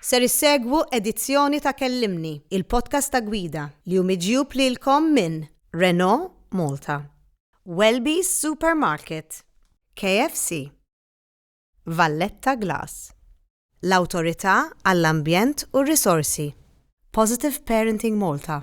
Ser issegwu edizzjoni ta' Kellimni, il-podcast ta' gwida li hu miġjub lilkom minn Renault Malta, Welby's Supermarket, KFC, Valletta Glass, l-Awtorità għall-Ambjent u r-Risorsi, Positive Parenting Malta,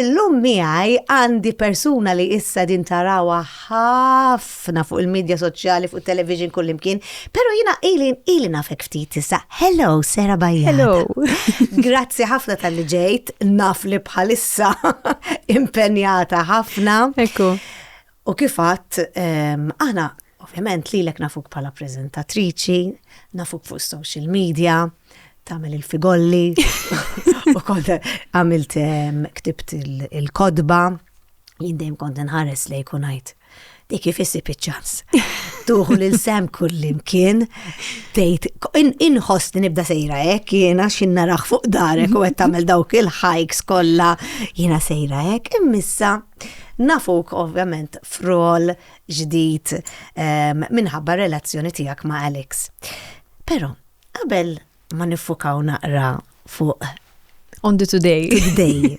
illum miegħi għandi persuna li issa din tarawha ħaf ħafna fuq il-medja soċjali, fuq television kullimkien, pero jina ili, ili nafek ftit issa. Hello, Sera Bajja. Hello. Grazzi ħafna tal-li ġejt, naf li bħalissa impenjata ħafna. Ekku. U kifat, ehm, aħna, ovvjament, li l-ek nafuk bħala prezentatriċi, nafuk fuq social media, tamel il-figolli, u kont għamilt ehm, ktibt il-kodba, jindejm kont nħares li jkunajt Di kif issib iċ-ċans. Tuħu lil sem kullimkien, tgħid inħoss li nibda sejra hekk, jiena x'in naraħ fuq darek u qed tagħmel dawk il-hikes kollha, jiena sejra hekk, immissa nafuk ovvjament frol ġdid ehm, minħabba relazzjoni tiegħek ma' Alex. Però, qabel ma niffukaw naqra fuq. On the today. Today.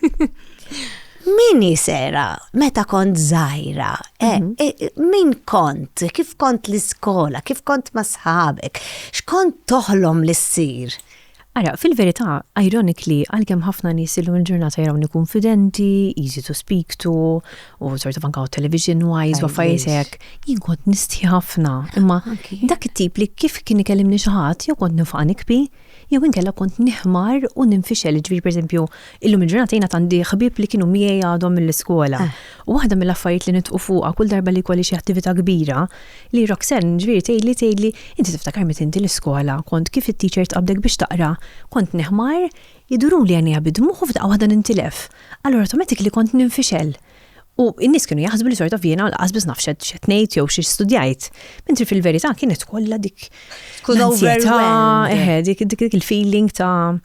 Min jisera meta kont zaħira? Eh, mhm. eh, min kont? Kif kont l-iskola? Kif kont ma sħabek? X'kont toħlom li ssir? Ara, fil-verità, ironically, għalkemm ħafna nies illum il-ġurnata jaraw konfidenti, easy to speak to, u sort of anka television wise u affarijiet hekk, jien kont nistħi ħafna. Imma dak it-tip li kif kien ikellimni xi ħadd jew kont nifqa' nikbi, jew inkella kont nihmar u ninfixel, ġifieri pereżempju, illum il-ġurnata jiena għandi ħbieb li kienu miegħi għadhom mill-iskola. Eh. U waħda mill-affarijiet li nitqu fuqha kull darba li kolli xi attività kbira, li Roxanne ġifieri tgħidli tgħidli, inti tiftakar meta inti l-iskola kont kif it-teacher tqabdek biex taqra, kont nihmar Iduruli għajnejha bi dmugħ u f'daqqa waħda nintilef. Allura tometik li kont ninfixel. U n-nies kienu jaħsbu li sort of jiena lanqas biss naf x'qed ngħid jew xi studjajt. Mentri fil-verità kienet kollha dik Tkun overwhelmed. Eħe, dik dik il-feeling ta'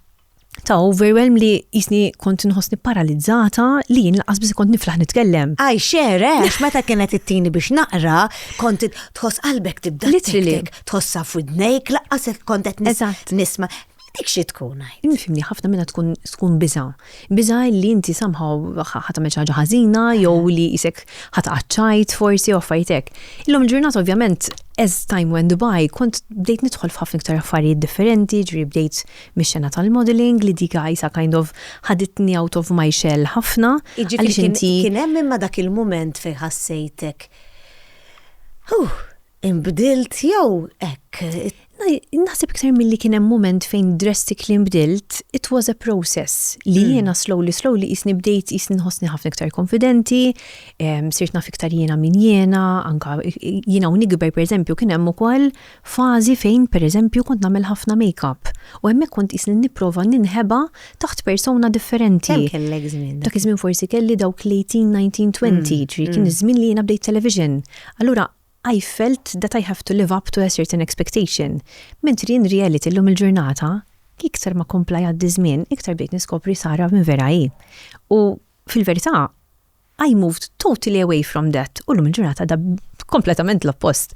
ta' overwhelm li jisni kont nħossni paralizzata li jien laqas biss kont niflaħ nitkellem. Għaj xere, għax meta kienet it-tini biex naqra, kont tħoss qalbek tibda Literally. tik-tik, tħossa f'widnejk, laqqas hekk kont qed nis- Eżatt. nisma. Dik xi tkun għid? Fimni, ħafna minnha tkun tkun biża'. Biża' li inti somehow ħa tagħmel xi ħaġa ħażina jew li qisek ħa tqaċċajt forsi jew affarijiet hekk. Illum il-ġurnata ovvjament as time went by kont bdejt nidħol f'ħafna iktar affarijiet differenti, jiġifieri bdejt mix-xena tal-modelling li dik għajsa kind of ħaditni out of my shell ħafna. Jiġifieri kien hemm imma dak il-mument fejn ħassejtek, huh! Inbdilt jew hekk. Naħseb iktar milli kien hemm mument fejn drastically nbdilt, it was a process li hmm. jiena slowly slowly jisni bdejt jisni nħossni ħafna iktar konfidenti, sirt naf iktar jiena min jiena, anka jiena u nikber pereżempju kien hemm ukoll fażi fejn pereżempju kont nagħmel ħafna make-up u hemmhekk kont jisni nipprova ninħeba taħt persona differenti. Kellek żmien. Dak iż-żmien forsi kelli dawk l-18, 19, 20, ġri kien hmm. iż-żmien li jiena bdejt television. Allura I felt that I have to live up to a certain expectation, mentri in reality llum il-ġurnata, iktar ma kompla jgħaddi ż-żmien, iktar bdejt niskopri Sarah min vera hi. U, fil-verità, I moved totally away from that u llum il-ġurnata da kompletament l-oppost.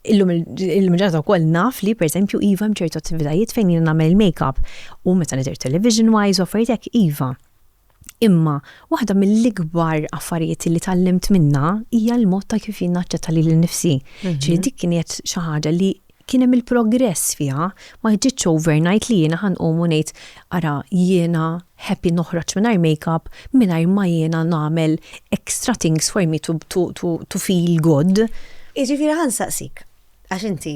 Illum il-ġurnata wkoll naf li pereżempju iva hemm ċertu attivitajiet fejn jiena nagħmel il-makeup u meta nidher television wise u affarijiet hekk iva. Imma waħda mill-ikbar affarijiet li tgħallimt minnha hija l-mod ta' kif jien naċċetta lili nnifsi. Ġifieri dik kienet xi ħaġa li kien hemm il-progress fiha, ma ġietx overnight li jiena ħa nqum u ngħid, ara jiena happy noħroġ mingħajr makeup mingħajr ma jiena nagħmel extra things for me to feel good. Jiġifieri ħa nsaqsik, għax inti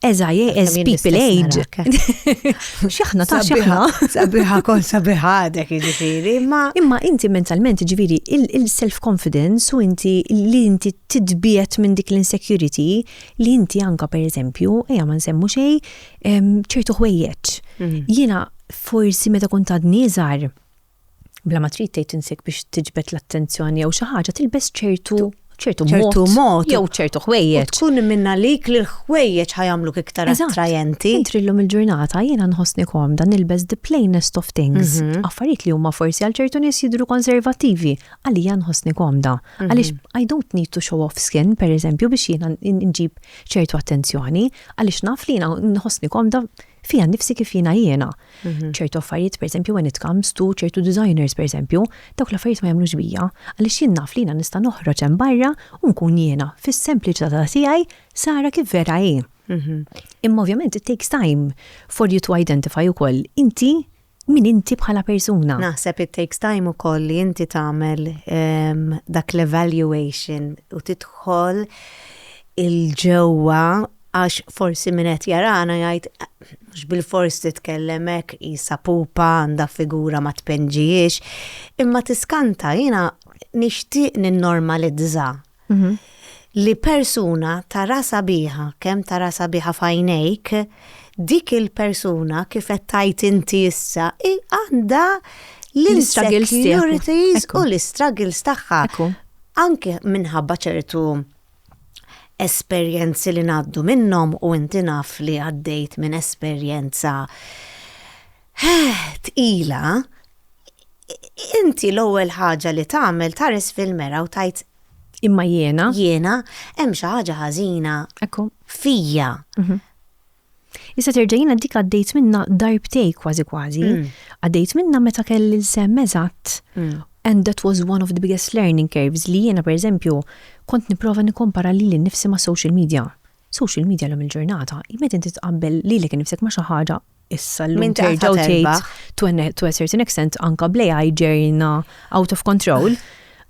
As I as people age. Xaħna ta' xaħna. Sabiħa kon sabiħa dek ġifiri, ma. Imma inti mentalment ġifiri il-self-confidence u inti li inti tidbiet minn dik l-insecurity li inti anka per eżempju, eja ma nsemmu xej, ċertu ħwejjeċ. Mm. Jena forsi meta kun ta' nizar, bla ma trid tgħid insek biex tiġbed l-attenzjoni jew xi ħaġa tilbes ċertu ċertu ċertu mod jew ċertu ħwejjeġ. Tkun minn għalik li l-ħwejjeġ ħajamluk iktar attrajenti. Intri llum il-ġurnata jiena nħossni komda nilbes the plainest of things. Mhm. Affarijiet li huma forsi għal ċertu nies jidru konservattivi, għalija nħossni komda. Mhm. Għaliex I don't need to show off skin, per eżempju, biex jiena nġib ċertu attenzjoni, għaliex naf li jiena nħossni komda fija nifsi kif jiena jiena. Mhm. ċertu affarijiet, per esempio, when it comes to ċertu designers, per esempio, dawk l-affarijiet ma jagħmlux bija, għaliex jien naf li jiena nista' noħroġ hemm barra u nkun jiena fis-sempliċità ta' tiegħi sara kif vera hi. Mhm. Imma ovvjament it takes time for you to identify ukoll inti Min inti bħala persuna. Naħseb it takes time ukoll li inti tagħmel dak l-evaluation u tidħol il-ġewwa għax forsi min qed jarana jgħid mhux bilfors titkellem hekk qisha pupa għandha figura ma tpinġihiex. Imma tiskanta jiena nixtieq ninnormalizza Mhm. li persuna tara sabiħa, kemm tara sabiħa f'għajnejk, dik il-persuna kif qed tgħid inti issa hi għandha L-struggles tiegħek. l-insecurities Ekku. u l-struggles tagħha. Ekku. Anke minħabba ċertu esperjenzi li ngħaddu minnhom u inti naf li għaddejt minn esperjenza Heh, tqila, ha? Inti l-ewwel ħaġa li tagħmel tħares fil-mera u tgħid, Imma jiena. Jiena, hemm xi ħaġa ħażina. Ekku. Fija. Mhm. Issa terġa' jiena dik għaddejt minna darbtej kważi kważi. Mm. Għaddejt minna meta kelli l-sem eżatt. Mm. And that was one of the biggest learning curves li jiena pereżempju kont nipprova nikkompara li l-nifsi ma' social media. Social media l-lum il-ġurnata, jmet inti tqabbel li l-ek nifsek ma' xi ħaġa issa l-lum terġaw tgħid to a, to a certain extent anka blejaj ġerjna out of control.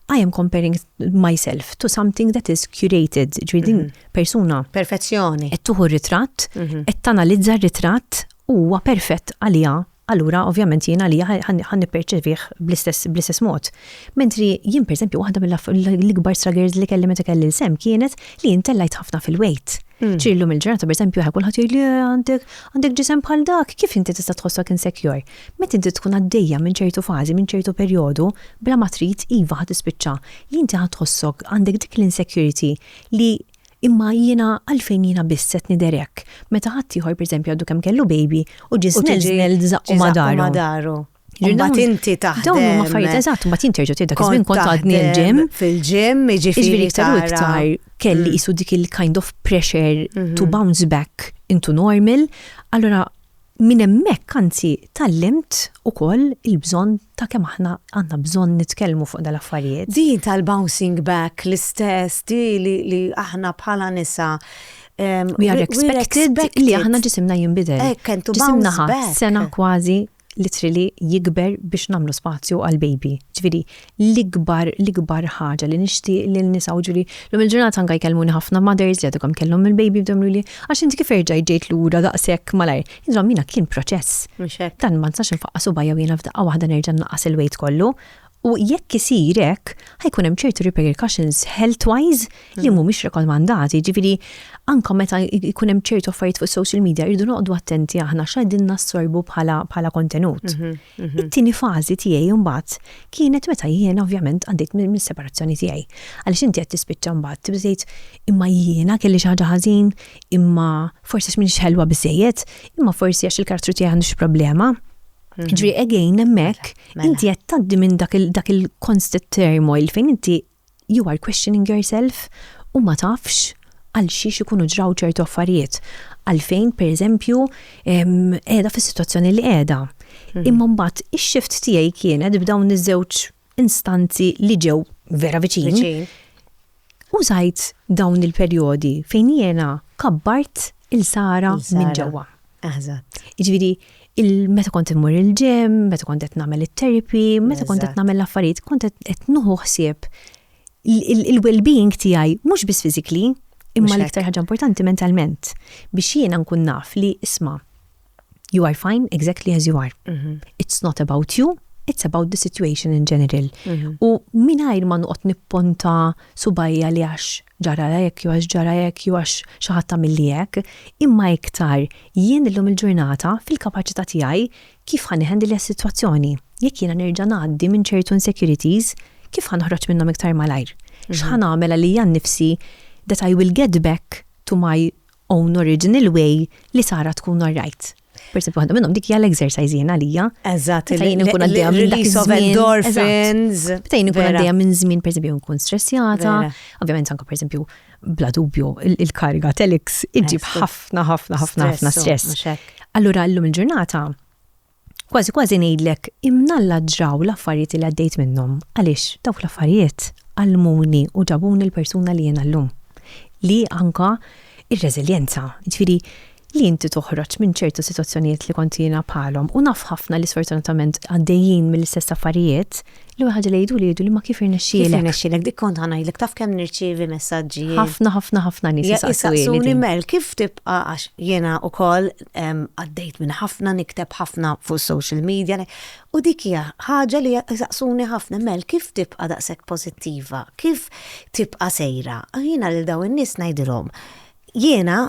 I am comparing myself to something that is curated, ġvidin mhm. persuna. Perfezzjoni. Et tuħu ritratt, et mhm. tanalizza ritratt huwa perfett għalija allura ovvjament jiena li ħan nipperċevih bl-istess mod. Mentri jien per esempio waħda mill-ikbar struggles li kelli meta kelli l-sem kienet li jintellajt ħafna fil-wejt. Hmm. Ċi llum il-ġurnata, per esempio, kulħadd jgħid li għandek għandek ġisem bħal dak, kif inti tista' tħossok insecure? Meta inti tkun għaddejja minn ċertu fażi, minn ċertu perjodu, bla ma trid iva ħad tispiċċa, li inti ħad tħossok għandek dik l-insecurity li imma jiena għalfejn jiena biss qed niderek. Meta ħadd ieħor pereżempju għadu kemm kellu baby u ġisnel żnel żaqqu madaru. Mbagħad inti taħdem. Dawn huma affarijiet eżatt, mbagħad jinterġu tieda kif minn kont għadni l-ġim. Fil-ġim, jiġifieri iktar u iktar kelli qisu mm. dik il-kind of pressure to mm-hmm. bounce back into normal. Allora minn hemmhekk anzi tallimt ukoll il-bżonn ta' kemm aħna għandna bżonn nitkellmu fuq dal-affarijiet. Din tal-bouncing back l-istess di li aħna bħala nisa Um, we are expected, li aħna ġisimna jimbidel. Ekk, entu Ġisimna ħat sena kważi literally jikber biex nagħmlu spazju għall-baby. Ġifieri l-ikbar l-ikbar ħaġa li nixtieq lil nisa u ġifieri lum il-ġurnata anke jkellmuni ħafna mothers li għadhom kemm kellhom il-baby bdew jgħiduli għax inti kif erġajt ġejt lura daqshekk malajr. Insomma jiena kien proċess. Dan ma nistax infaqqas subgħajja u jiena f'daqqa waħda nerġa' nnaqqas il-weight kollu. U jekk isir hekk, ħajkun hemm ċertu repercussions health-wise li mm. mhumiex rekomandati. Ġifieri anke meta jkun hemm ċertu affarijiet fuq social media rridu noqogħdu attenti aħna x'qegħdin nassorbu bħala bħala kontenut. Mhm, mhm. It-tieni fażi tiegħi mbagħad kienet meta jiena ovvjament għaddejt mis-separazzjoni tiegħi. Għaliex inti qed tispiċċa mbagħad tibżejt imma jiena kelli xi ħaġa ħażin, imma forsi x'minix ħelwa biżejjed, imma forsi għax il-kartru tiegħi għandux problema. Ġri again hemmhekk mela. inti qed tgħaddi minn dak il-constant turmoil fejn inti you are questioning yourself u ma tafx għal xiex ikunu ġraw ċertu affarijiet. Għalfejn, per eżempju, qiegħda fis-sitwazzjoni li qiegħda. Mhm. Imma mbagħad ix-xift tiegħi kienet b'dawn iż-żewġ instanzi li ġew vera viċin, użajt dawn il-perjodi fejn jiena kabbart il-sara minn ġewwa. Eżatt. Jiġifieri meta kont immur il-ġim, meta kont qed nagħmel it-terapi, meta kont qed nagħmel l-affarijiet, kont qed nuħu ħsieb il-well-being tiegħi mhux biss physically, imma l-iktar ħaġa importanti mentalment biex jiena nkun naf li isma' You are fine exactly as you are. Mhm. It's not about you, it's about the situation in general. Mhm. U minajr ma nuqot nipponta subajja li għax ġara jek, ju għax ġara jek, ju għax xaħat milli jek, imma iktar jien illum il-ġurnata fil-kapacita tijaj kif ħan iħendi li situazzjoni. Jek jena nerġa naddi minn ċertu insecurities, kif ħan uħroċ minnom iktar malajr. Mhm. Xħan għamela li jan nifsi that I will get back to my own original way li Sara tkun alright. Per esempio, għandhom minnhom dik hija l-exercise jien għalija. Eżatt, li jien nkun għaddejja minn dak endorphins. Meta jien nkun għaddejja minn żmien per esempio nkun stressjata, ovvjament anke per esempio bla dubju il-kariga telix iġib ħafna ħafna ħafna ħafna stress. Allura llum il-ġurnata Kważi kważi ngħidlek imnalla ġraw l-affarijiet li għaddejt minnhom għaliex dawk l-affarijiet għallmuni u ġabuni l-persuna li jiena llum. Li anka r-reżiljenza, jiġifieri li inti toħroġ minn ċertu sitwazzjonijiet li kont jiena bħalhom u naf ħafna li sfortunatament għaddejjin mill-istess affarijiet, L-ewwel ħaġa li jgħidu li jgħidu li ma kif irnexxielek. Kif irnexxielek dik kont ħanajlek taf kemm nirċievi messaġġi. Ħafna ħafna ħafna nies isaqsuni mel kif tibqa' għax jiena wkoll għaddejt minn ħafna nikteb ħafna fuq social media u dik hija ħaġa li jsaqsuni ħafna mel kif tibqa' daqshekk pożittiva, kif tibqa' sejra. Jiena lil dawn in-nies ngħidilhom jiena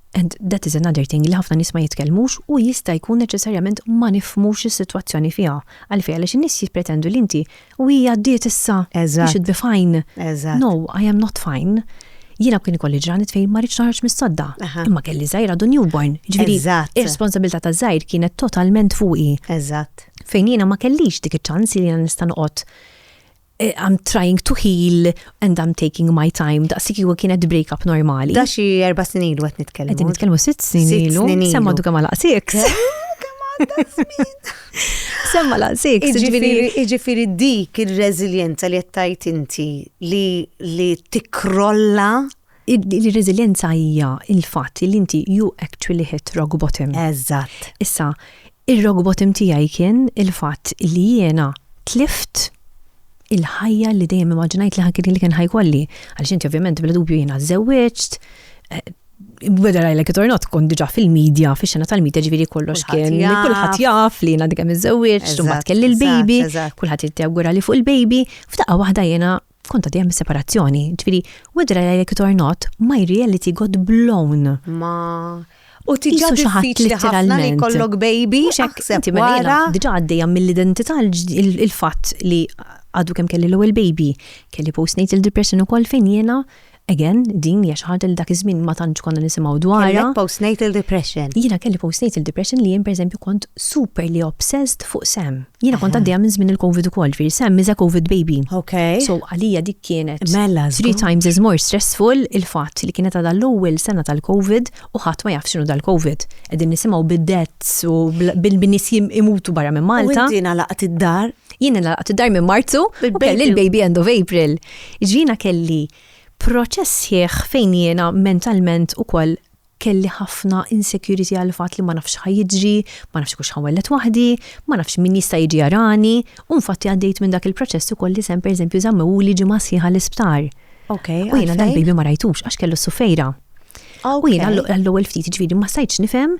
and that is another thing li ħafna nies ma jitkellmux u jista' jkun neċessarjament ma nifhmux is-sitwazzjoni fiha. Għalfejn għaliex in-nies jippretendu li inti u hi għaddiet issa, you should be fine. No, I am not fine. Jiena kien ikolli ġranet fejn ma rridx naħroġ mis-sodda. Imma kelli żgħir għadu newborn. Ġifieri, ir-responsabilità ta' żgħir kienet totalment fuqi. Eżatt. Fejn jiena ma kellix dik iċ-ċans li jiena nista' noqgħod Eh, I'm trying to heal and I'm taking my time. Daqsik ju kienet break up normali. Da xi erba snin ilu għet nitkellmu. Għet nitkellmu sitt snin ilu. Semma du kama laqsik. Semma laqsik. Iġifiri dik il-reżiljenza li jettajt inti li tikrolla Ir-reżiljenza hija l-fatt li inti you actually hit rock bottom. Eżatt. Issa, ir-rock bottom tiegħi kien il-fatt li jiena tlift il-ħajja li dejjem immaġinajt li kien ħa jkolli. Għaliex inti ovvjament bla dubju jiena żewwiġt, whether I like it or not, kont diġà fil-medja, fix-xena tal-medja ġifieri kollox kien. Kulħadd jaf li jiena dikem iżżewwiġt, imbagħad kelli l-baby, kulħadd jittegura li fuq il-baby, f'daqqa waħda jiena Konta dejjem is-separazzjoni, ġifieri wedra jgħidlek itornot ma jriel li tigot blown. Ma U tiġa diffiċli ħafna li kollok baby, xekk wara. Diġa għaddejja mill-identità il-fatt li għadu kemm kelli l-ewwel baby, kelli postnatal depression ukoll fejn jiena Again, din hija xi ħaġa li dak iż-żmien ma tantx konna nisimgħu dwarha. Kellek postnatal depression. Jiena kelli postnatal depression li jien pereżempju kont super li obsessed fuq Sam. Jiena kont għaddejja minn żmien il-Covid ukoll, ġifieri Sam is a Covid baby. Okay. So għalija dik kienet mela three times as more stressful il-fatt li kienet għadha l-ewwel sena tal-Covid u ħadd ma jaf x'inhu dal-Covid. Qegħdin nisimgħu bid-deaths u bil-nies imutu barra minn Malta. U inti nalaqt id-dar? Jiena nalaqt id-dar minn Marzu u kelli l-baby end of April. Jiena kelli proċess sħiħ fejn jiena mentalment ukoll kelli ħafna insecurity għall-fatt li ma nafx x'ħa jiġri, ma nafx jekk hux ħa nwelled waħdi, ma nafx min jista' jiġi jarani, u infatti għaddejt minn dak il-proċess ukoll li Sam pereżempju żammewhuli ġimgħa sħiħa l-isptar. U jiena dal-baby ma rajtux għax kellu s-sufejra. U jien għall-ewwel ftit ġviri ma sajtx nifhem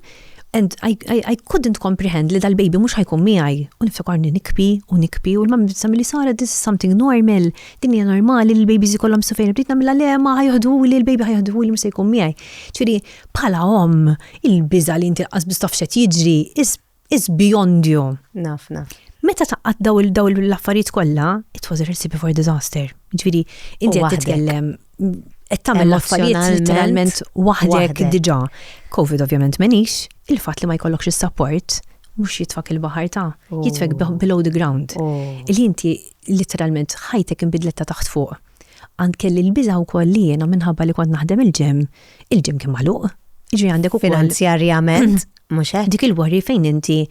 and I, I, I couldn't comprehend li dal-baby mhux ħajkun miegħi. U niftakarni nikpi u nikpi u l-mam bissa milli sara this is something normal, din hija normali li l-babies ikollhom sofejn bdejt nagħmilha le ma ħajħdu li l-baby ħajħdu li mhux se jkun miegħi. Ġifieri bħala omm il-biża li inti qas bistaf xed jiġri is is beyond you. Naf, naf. Meta taqqat daw il-daw l-affarijiet kollha, it was a recipe for disaster. Ġifieri, inti qed titkellem qed tagħmel l-affarijiet literalment waħdek diġà. Covid ovvjament menix, il-fatt li ma jkollokx is-support mhux jitfak il-baħar ta' oh. jitfek below the ground. Oh. Il inti literalment ħajtek inbidlet ta' taħt fuq. Għand kelli l-biża wkoll li jiena minħabba li kont naħdem il-ġem, il-ġem kien magħluq. Ġi għandek ukoll. Finanzjarjament. Mhux hekk? Dik il-worry fejn inti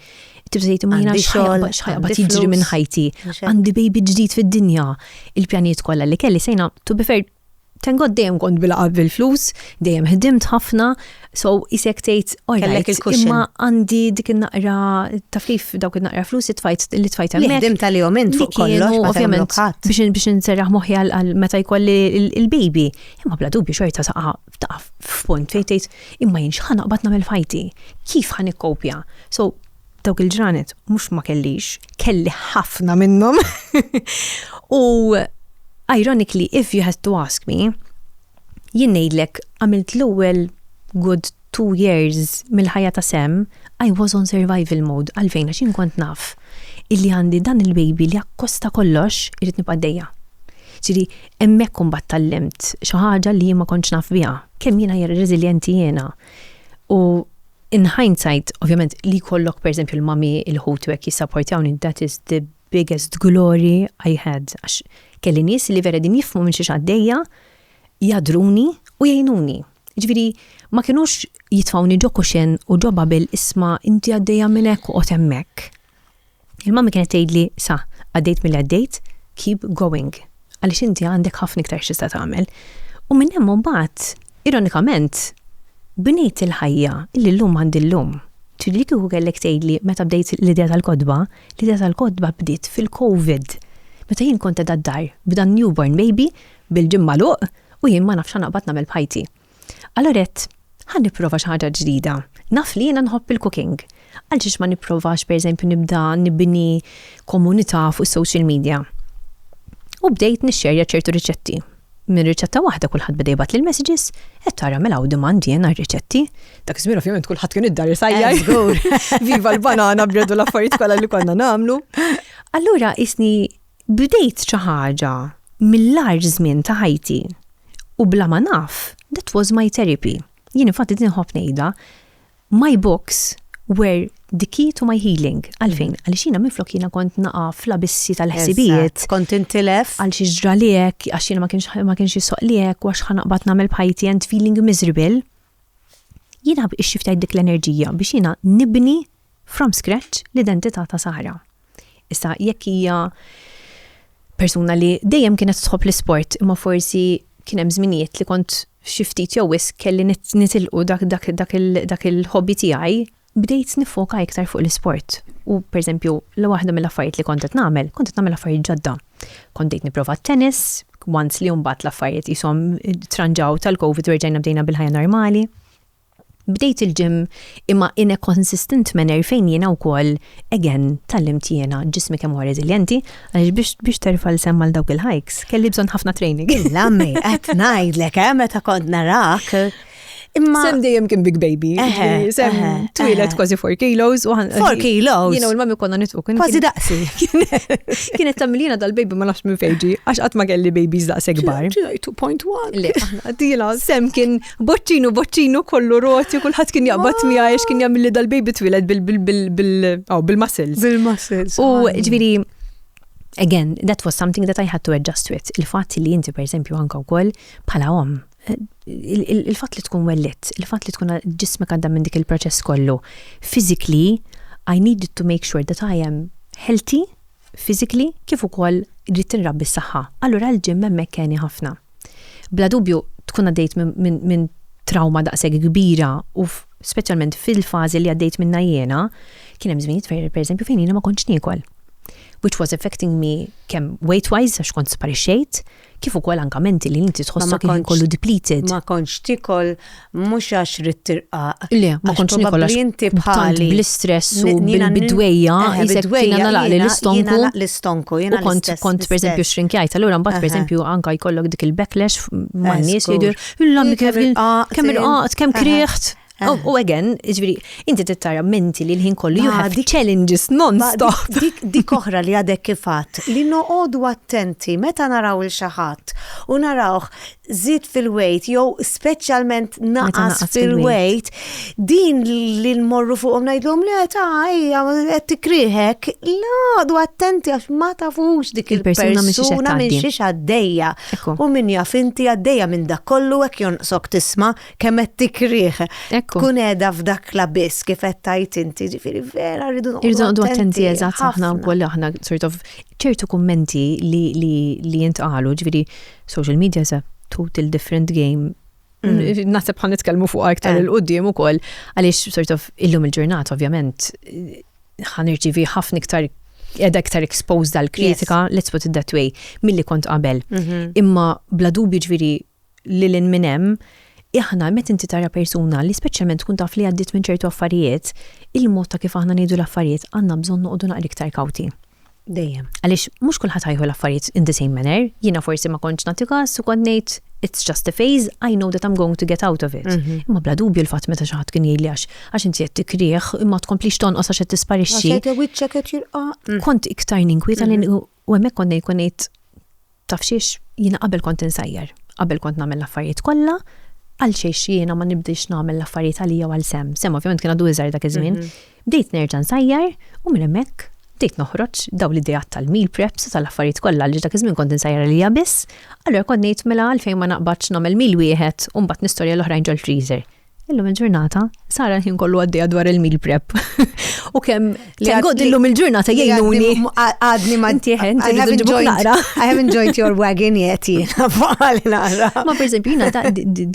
tibda tgħid imma jiena xogħol x'ħajqbad jiġri minn ħajti. Għandi baby ġdid fid-dinja. Il-pjanijiet kollha li kelli sejna to be fair Tengod dejjem kont bil-qab bil-flus, dejjem ħdimt ħafna, so isek tgħid kellek il-kuxin. Imma għandi dik in-naqra taf kif dawk in-naqra flus tfajt li tfajt hemmhekk. Ħdim tal-jom int fuq kollox ovvjament biex biex inserraħ moħħi għal meta jkolli il-baby. Imma bla dubju xorta saqa taqaf f'punt fejn tgħid imma jien x'ħa naqbad nagħmel f'ħajti? Kif ħa nikkopja? So dawk il-ġranet mhux ma kellix, kelli ħafna minnhom. U ironically, if you had to ask me, jien ngħidlek għamilt l-ewwel good two years mill-ħajja ta' sem, I was on survival mode għalfejn għax jien kont naf illi għandi dan il-baby li akkosta kollox irid nibqa' dejja. Ġiri, Hemmhekk imbagħad tgħallimt xi ħaġa li jien ma kontx naf biha. Kemm jiena hija reżiljenti jiena. U in hindsight, ovvjament, li jkollok pereżempju l-mami, il-ħuti u hekk jissapportjawni, that is the biggest glory I had. Għax kelli nies li vera qegħdin jifhmu minn xiex għaddejja, jagħdruni u jgħinuni. Jiġifieri ma kinux jitfgħuni ġo kuxin u ġo bubble isma' inti għaddejja minn hekk oqgħod hemmhekk. Il-mammi kienet tgħidli sa, għaddejt milli għaddejt, keep going, għaliex inti għandek ħafna iktar xista tagħmel. U minn hemm mbagħad, ironikament, bnejt il-ħajja li llum għandi llum. Ġifieri li kieku kellek tgħidli meta bdejt l-idea tal-kotba, l-idea tal-kotba bdiet fil-COVID. Meta jien kont qed għad-dar b'dan newborn baby bil-ġimma luq u jien ma nafx naqbad nagħmel b'ħajti. Allura għedt, ħa nipprova xi ħaġa ġdida. Naf li jiena nħobb il-cooking. Għaliex ma nipprovax pereżempju nibda nibni komunità fuq is-social media. U bdejt nixxerja ċertu riċetti. Minn riċetta waħda kulħadd beda jibgħat lil messages qed tara mela u demand jien għar-riċetti. Dak iż-żmien ovvjament kulħadd kien id-dar isajja. Viva l-banana bredu l-affarijiet kollha li konna nagħmlu. Allura isni Bdejt xi ħaġa mill-agħar żmien ta' ħajti u bla ma naf, that was my therapy. Jien infatti din inħobb ngħidha, my books were the key to my healing. Għalfejn? Għaliex jiena minflok jiena kont naqa' fl-abissi tal-ħsibijiet. Kont intilef. Għal xiex ġrali hekk, għax jiena ma kienx ma kienx jissoqli hekk, għax ħa naqbad nagħmel b'ħajti and feeling miserable. Jiena ħabb ixxi ftit dik l-enerġija biex jiena nibni from scratch l-identità ta' Sara. Issa jekk hija persuna li dejjem kienet tħobb l-isport imma forsi kien hemm żminijiet li kont xi ftit jew wisq kelli nitilqu dak dak dak il-ħobbi tiegħi bdejt niffoka iktar fuq l-isport u pereżempju waħda mill-affarijiet li kont qed nagħmel, kont qed nagħmel affarijiet ġodda. Kont bdejt nipprova t-tennis, once li mbagħad l-affarijiet qishom tranġaw tal-Covid u rġajna bdejna bil-ħajja normali. Bdejt il-gym imma in a consistent manner fejn jiena wkoll again tgħallimt jiena ġismi kemm huwa reżiljenti għaliex biex terfa' l-sehem għal dawk il-hikes kelli bżonn ħafna training. Lammi, qed ngħidlek eh meta kont narak Imma. Sem dejjem kien big baby. Sem twilet kważi 4 kilos. 4 kilos. Jina u l-mami konna nitfu. Kważi daqsi. Kienet tamilina dal-baby ma nafx minn fejġi, għax qatt ma kelli babies daqs ekbar. 2.1. Le, għadila, sem kien boċċinu, boċċinu kollu roti, kullħat kien jaqbat mija, għax kien jgħamilli dal-baby twilet bil-muscles. Bil-muscles. U ġviri, again, that was something that I had to adjust with. Il-fat li inti, per esempio, anka u koll, pala om, il-fatt li tkun wellitt, il-fatt li tkun ġismek għadda minn dik il-proċess kollu, physically, I needed to make sure that I am healthy, physically, kif ukoll rrid tinrabbi s-saħħa. Allura l-ġim hemmhekk keni ħafna. Bla dubju tkun għaddejt minn trawma daqshekk kbira u speċjalment fil-fażi li għaddejt minnha jiena, kien hemm żminijiet fejn pereżempju fejn jiena ma kontx niekol. Which was affecting me kemm weight-wise għax kont sparixxejt, Kif ukoll anke menti li inti tħossok il-ħin kollu depleted. Ma kontx tikol mhux għax ridt tirqaq. Le, ma kontx nikol għax inti bħali bl-istress u bid-dwejja, bid-dwejja nalaqli l-istonku. L-istonku, jiena kont kont pereżempju xrinkjajt, allura mbagħad pereżempju anke jkollok dik il-backlash man-nies li jdur, illa kemm irqaqt, kemm kriħt. Oh, u again, ġviri, inti tittara menti li l-ħin kollu you have challenges non-stop. Dik oħra li għadek kifat, li noqodu attenti meta naraw il-xaħat u narawħ zid fil-wejt, jew specialment naqas fil-wejt, din li nmorru fuqom najdlom li ta' ija, għed tikriħek, l-għadu attenti għax ma tafux dik il-persuna minn xiex għaddeja. U minn jaf inti għaddeja minn dak kollu għek jonqsok tisma' kemm qed tikrih. Tkun qiegħda f'dak la biss kif qed tajt inti, ġifieri vera rridu noqgħdu attenti eżatt aħna wkoll aħna sort of ċertu kummenti li li li jintqalu, ġifieri social media is a total different game Mm. Nasib ħan nitkellmu fuq aktar eh. il-qoddim u koll, għalix sort of illum il-ġurnat, ovvjament, ħan irċivi ħafna iktar edha iktar exposed dal kritika let's put it that way, mill-li kont qabel. Mhm. Imma bla dubju ġviri Lil hinn minn hemm, aħna meta inti tara persuna li speċjalment tkun taf li għaddiet minn ċertu affarijiet, il-mod ta' kif aħna ngħidu l-affarijiet għandna bżonn noqogħdu naqra iktar kawti. Dejjem. Għaliex mhux kulħadd ħa jieħu l-affarijiet in the same manner. Jiena forsi ma kontx nagħti każ u kont ngħid, It's just a phase, I know that I'm going to get out of it. Imma bla dubju l-fatt meta xi ħadd kien jgħidli għax għax inti qed tikkrih, imma tkomplix tonqos għax qed tisparixxi. Għax għadha wiċċek qed jirqa'. Kont iktar ninkwieta li U hemmhekk kont ngħid kont ngħid taf xiex jiena qabel kont insajjar, qabel kont nagħmel l-affarijiet kollha, għal xiex jiena ma nibdix nagħmel l-affarijiet għalija għal sem. Sem ovvjament kien għadu iżgħar dak iż-żmien. Mhm. Bdejt nerġa' nsajjar u minn hemmhekk bdejt noħroġ daw li dijat tal-meal preps u tal-affarijiet kollha li dak iż-żmien kont insajjar għalija biss, allura kont ngħid mela għalfejn ma naqbadx nagħmel meal wieħed u mbagħad nistorja l-oħrajn ġol freezer. Illum il-ġurnata, Sara l-ħin kollu għaddija dwar il-meal prep. U kem li għaddillum illum il-ġurnata jgħinuni. Għadni ma tiħen, I haven't joined, I haven't joined your wagon yet, Ma per esempio, jina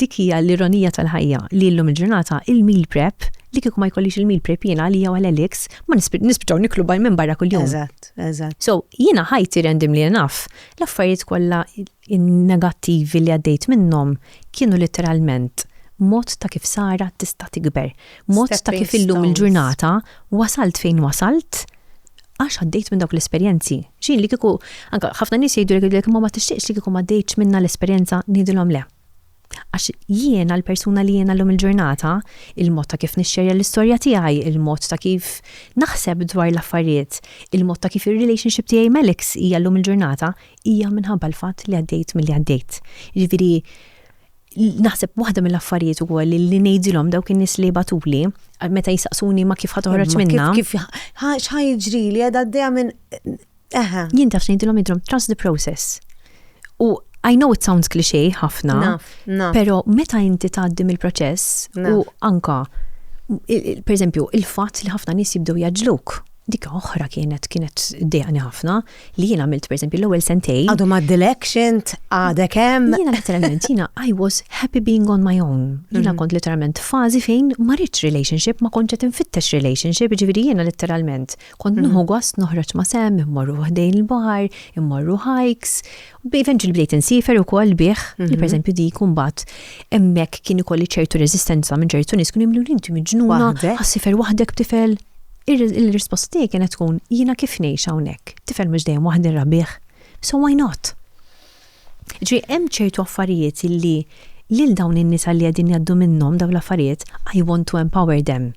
dikija l-ironija tal-ħajja li illum il-ġurnata il-meal prep li kiku ma jkollix il-meal prep jina li jaw għal-Alex, ma nispiċaw niklu baj minn barra kull-jum. Eżat, eżat. So, jina ħajti rendim li naf, l-affarijiet kolla In-negattivi li għaddejt minnhom kienu litteralment mod ta' kif Sara tista' tikber, mod ta' kif illum il-ġurnata wasalt fejn wasalt għax għaddejt minn dawk l-esperjenzi. X'inhi li kieku anke ħafna nies jgħidulek imma ma tixtieqx li kieku m'għaddejtx minnha l-esperjenza, ngħidilhom le. Għax jiena l-persuna li jiena llum il-ġurnata, il-mod ta' kif nixxerja l-istorja tiegħi, il-mod ta' kif naħseb dwar l-affarijiet, il-mod ta' kif ir-relationship tiegħi mal-ex hija llum il-ġurnata, hija minħabba l-fatt li għaddejt milli għaddejt. Jiġifieri naħseb waħda mill-affarijiet ukoll li ngħidilhom dawk in-nies li jibgħatuli meta jistaqsuni ma kif ħa toħroġ minnha. Kif x'ħa jiġrili qed għaddejja minn Aha. Jien taf ngħidilhom idrom trust the process. U I know it sounds cliché ħafna, pero meta inti tgħaddi mill-proċess u anka per eżempju il-fatt li ħafna nies jibdew jaġluk dik oħra kienet kienet dejani ħafna li jien għamilt per eżempju l-ewwel sentej. Għadu ma d-election, għadek hemm. Jiena literalment jiena I was happy being on my own. Jiena mm-hmm. kont literalment fażi fejn ma rridx relationship, ma kontx qed infittex relationship, ġifieri jiena literalment Kont nuħu gost noħroġ ma' sem, immorru ħdejn il-baħar, immorru hikes, u eventually bdejt insifer ukoll bih, li pereżempju dik imbagħad hemmhekk kien ikolli ċertu reżistenza minn ċertu nies kienu jimlu inti miġnuna, ħassifer waħdek b'tifel. Il-risposta tiegħi kienet tkun jiena kif ngħix hawnhekk, tifel mhux dejjem waħdi nrabbih, so why not? Jiġifieri hemm ċertu affarijiet illi lil dawn in-nisa li qegħdin jgħaddu minnhom dawn l-affarijiet, I want to empower them.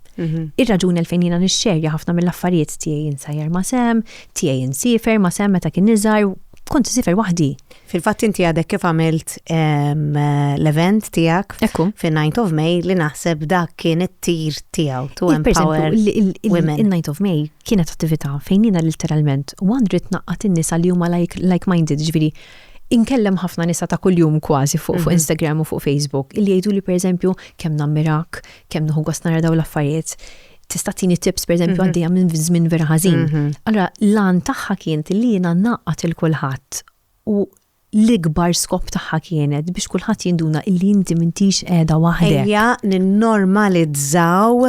Ir-raġuni għalfejn jiena nixxerja ħafna mill-affarijiet tiegħi insajjar ma' Sam, tiegħi insiefer ma' Sam meta kien iżgħar, kont insiefer waħdi. Fil-fatt inti għadek kif għamilt l-event tiegħek fin-Ninth of May li naħseb dak kien it-tir tiegħu to empower women. In-Ninth of May kienet attività fejn jiena literalment u għandi rrid naqqat in-nisa li huma like, like minded, ġifieri inkellem ħafna nisa ta' kuljum kważi fuq, fuq mhm. Instagram u fuq Facebook illi jgħidu li pereżempju kemm nammirak, kemm nuħu gost nara daw l-affarijiet tista' tini tips pereżempju mhm. għaddejja minn żmien vera ħażin. Mhm. Allora lan tagħha kien li jiena naqgħat il kulħadd u l-ikbar skop tagħha kienet biex kulħadd jinduna illi inti m'intix qiegħda waħdek. Ejja ninnormalizzaw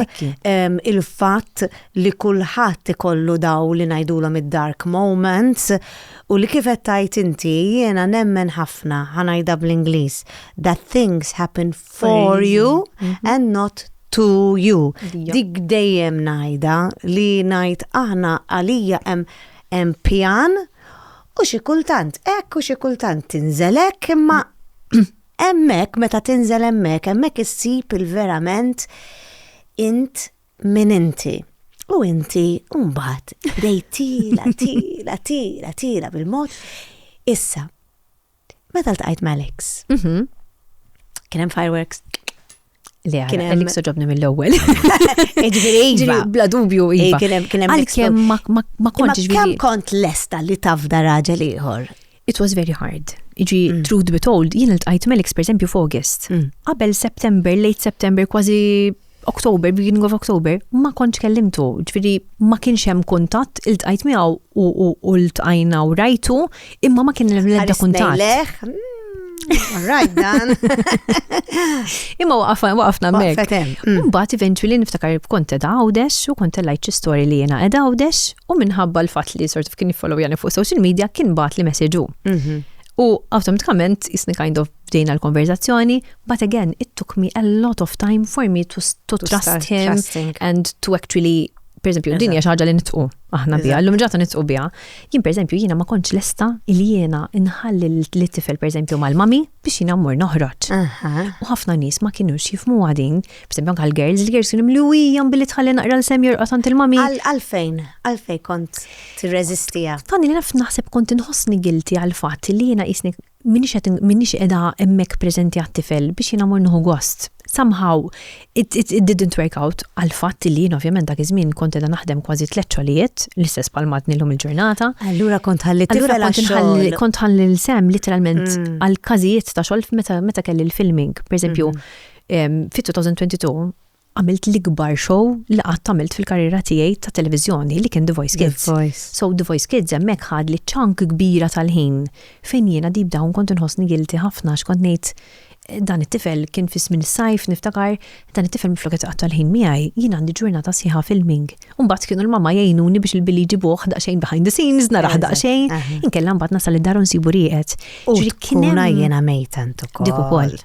ehm, il-fatt li kulħadd ikollu daw li ngħidulhom id-dark moments u li kif qed tgħid inti jiena nemmen ħafna ħanajda bl-Ingliż that things happen for you mhm. and not to you. Dik dejjem ngħidha li ngħid aħna għalija hemm pjan U xi kultant hekk u xi kultant tinżel hekk imma hemmhekk meta tinżel hemmhekk hemmhekk issib il-verament int min inti. U inti mbagħad bdejt tila, tila, tila, tila bil-mod. Issa, Meta ltqajt ma' Alex. Mhm. Kien hemm fireworks. Le, Kien hemm- Alex ġobni mill-ewwel. Ġifieri iva. Ġifieri bla dubju Ej, iva. kien hemm- kien hemm Għalkemm ma- ma ma Imma kontx kemm ġifieri. kont lesta li tafda raġel ieħor? It was very hard. Iġi, Mm. truth be told, jien il-tqajt Melix per esempio f'August. Qabel September, late September, kważi October, beginning of October, ma kontx kellimtu, ġviri ma kienx hemm kuntatt, il-tqajt miegħu u l-tqajna u rajtu, imma ma kien hemm l-ebda kuntatt. Mm, right, dan. Imma waqafna, waqafna mek. Mm. Mbagħad eventually niftakar kont edha għawdex u kont lajt xi story li jiena edha għawdex u minħabba l-fatt li sort of kien jiffollow jani fuq social media kien bat li messaġu. Mhm. U automatikament jisni kind of bdejna l-konverzazzjoni, but again, it took me a lot of time for me to, to, to trust him trusting. and to actually per esempio, din hija ħaġa li nitqu aħna biha, l-lum ġata nitqu biha. Jien per esempio, jiena ma kontx lesta il jiena inħalli li tifel per esempio mal-mami biex jiena mmur noħroġ. U ħafna nies ma kienu jifmu għadin, per esempio anke l-girls, il-girls kienu mluwi jam billi tħalli naqra l-sem jorqod għand il-mami. Għalfejn, għalfejn kont tirreżistija. Tani li naf naħseb kont inħossni gilti għal-fatt li jiena jisni m'iniex qed m'iniex qiegħda hemmhekk preżenti għat-tifel biex jiena mur nieħu gost. Somehow it, it, it didn't work out għal fatt li jien ovvjament dak iż-żmien kont qiegħda naħdem kważi tliet xogħlijiet, l-istess bħal madni llum il-ġurnata. Allura kont ħalli tifel għax-xogħol. Kont ħalli l-sem literalment mm. għal każijiet ta' xogħol meta meta kelli l-filming. Per eżempju, mm-hmm. fit-2022 għamilt l-ikbar show li qatt għamilt fil-karriera tiegħi ta' televiżjoni li kien The Voice Kids. The Voice. So The Voice Kids hemmhekk ħad li ċank kbira tal-ħin fejn jiena deep down kont inħossni guilty ħafna għax kont ngħid dan it-tifel kien fi żmien is-sajf niftakar dan it-tifel minflok qed iqatta' l-ħin miegħi jien għandi ġurnata sħiħa filming. U mbagħad kienu l-mamma jgħinuni biex il-billi jġibuh daqsxejn behind the scenes naraħ daqsxejn. Inkella mbagħad nasal id-dar u nsibu rieqed. U kien jiena mejta ukoll. Dik ukoll.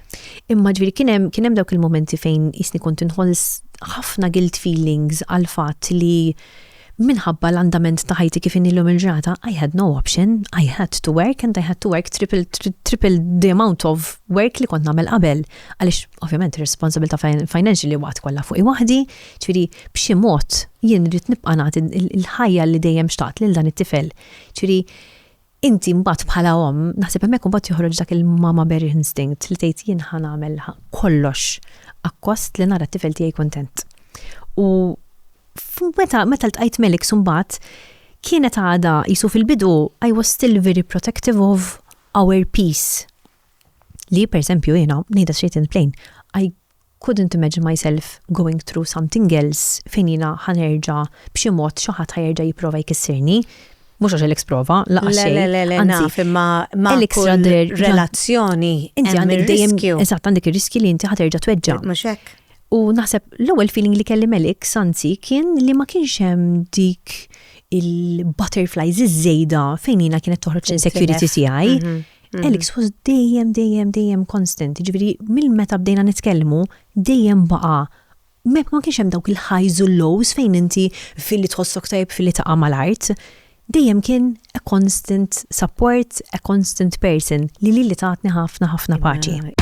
Imma ġviri kienem, kienem dawk il-momenti fejn jisni kont inħolls ħafna guilt feelings għal fatt li minħabba l-andament ta' ħajti kif inilhom il-ġrata, I had no option, I had to work and I had to work triple, triple the amount of work li kont nagħmel qabel. Għaliex ovvjament ir-responsabilità financial li waqt kollha fuq waħdi, ċiri b'xi mod jien rrid nibqa' nagħti il-ħajja li dejjem xtaqt lil dan it-tifel. Ċiri Inti mbagħad bħala omm, naħseb hemmhekk mbagħad joħroġ dak il-mama bear instinct li tgħid jien ħa nagħmel kollox akkost li nara t-tifel tiegħi kuntent. U meta meta ltqajt Melix mbagħad kienet għada jisu fil-bidu I was still very protective of our peace. Li per esempio jiena ngħidha straight and plain, I Couldn't imagine myself going through something else fejn jiena ħa nerġa' b'xi mod xi ħadd ħa jerġa' jipprova jkissirni. Mhux għax Alex prova, lanqas Le, xejn. le, le, le, Anzi, naf, imma ma' Alex kull Radder ġa- relazzjoni Inti hemm għandek dejjem ir-riskju. eżatt għandek ir-riskji li inti ħa terġa' tweġġa'. Mhux hekk? U naħseb l-ewwel feeling li kelli m'Alex anzi kien li ma kienx hemm dik il-butterflies iż-żejda fejn jiena kienet toħroġ l-insecurity tiegħi. Mhm. Mm. Alex was dejjem, dejjem, dejjem constant. Ġviri, mill-meta bdejna nitkellmu, dejjem baqa. Mek ma kienx hemm dawk il-highs u lows fejn inti fil-li tħossok tajb fil-li taqa' mal-art. Dejjem kien a constant support, a constant person li li li taħtni ħafna ħafna paċi.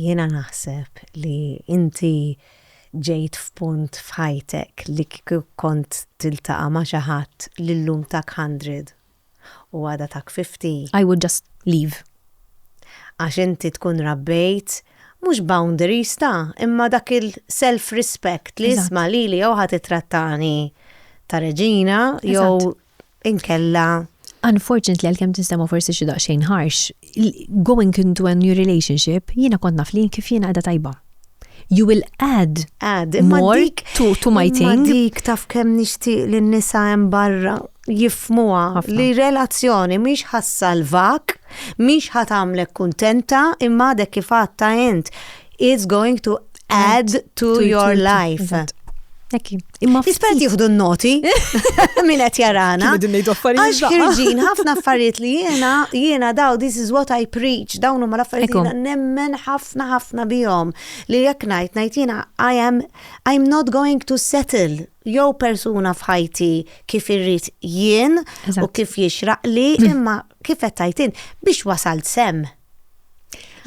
Jiena naħseb li inti ġejt f'punt f'ħajtek li kieku kont tiltaqa' ma' xi ħadd li llum tak hundred u għada tak fifty, I would just leave. Għax inti tkun rabbejt mhux boundaries ta' imma dak il self respect li isma' lili jew ħa tittrattani ta' reġina jew inkella. Unfortunately għalkemm tinsema forsi xi daqsxejn harsh, going into a new relationship jiena kont naf li kif jiena qiegħda tajba. You will add more to my thing. Imma dik taf kemm nixtieq lin-nisa hemm barra. jifhmuha li relazzjoni mhix ħa ssalvak, mhix ħa tagħmlek kuntenta, imma għadek kif għadta int, it's going to add to your life. Ekki. Imma Ispert jieħdu n-noti minn qed jarana. Għax ħirġin ħafna affarijiet li jiena jiena daw this is what I preach dawn huma l-affarijiet jiena nemmen ħafna ħafna bihom li jekk ngħid ngħid jiena I am I'm not going to settle jew persuna f'ħajti kif irrid jien u kif jixraqli, mm. imma kif qed tajtin biex wasalt sem.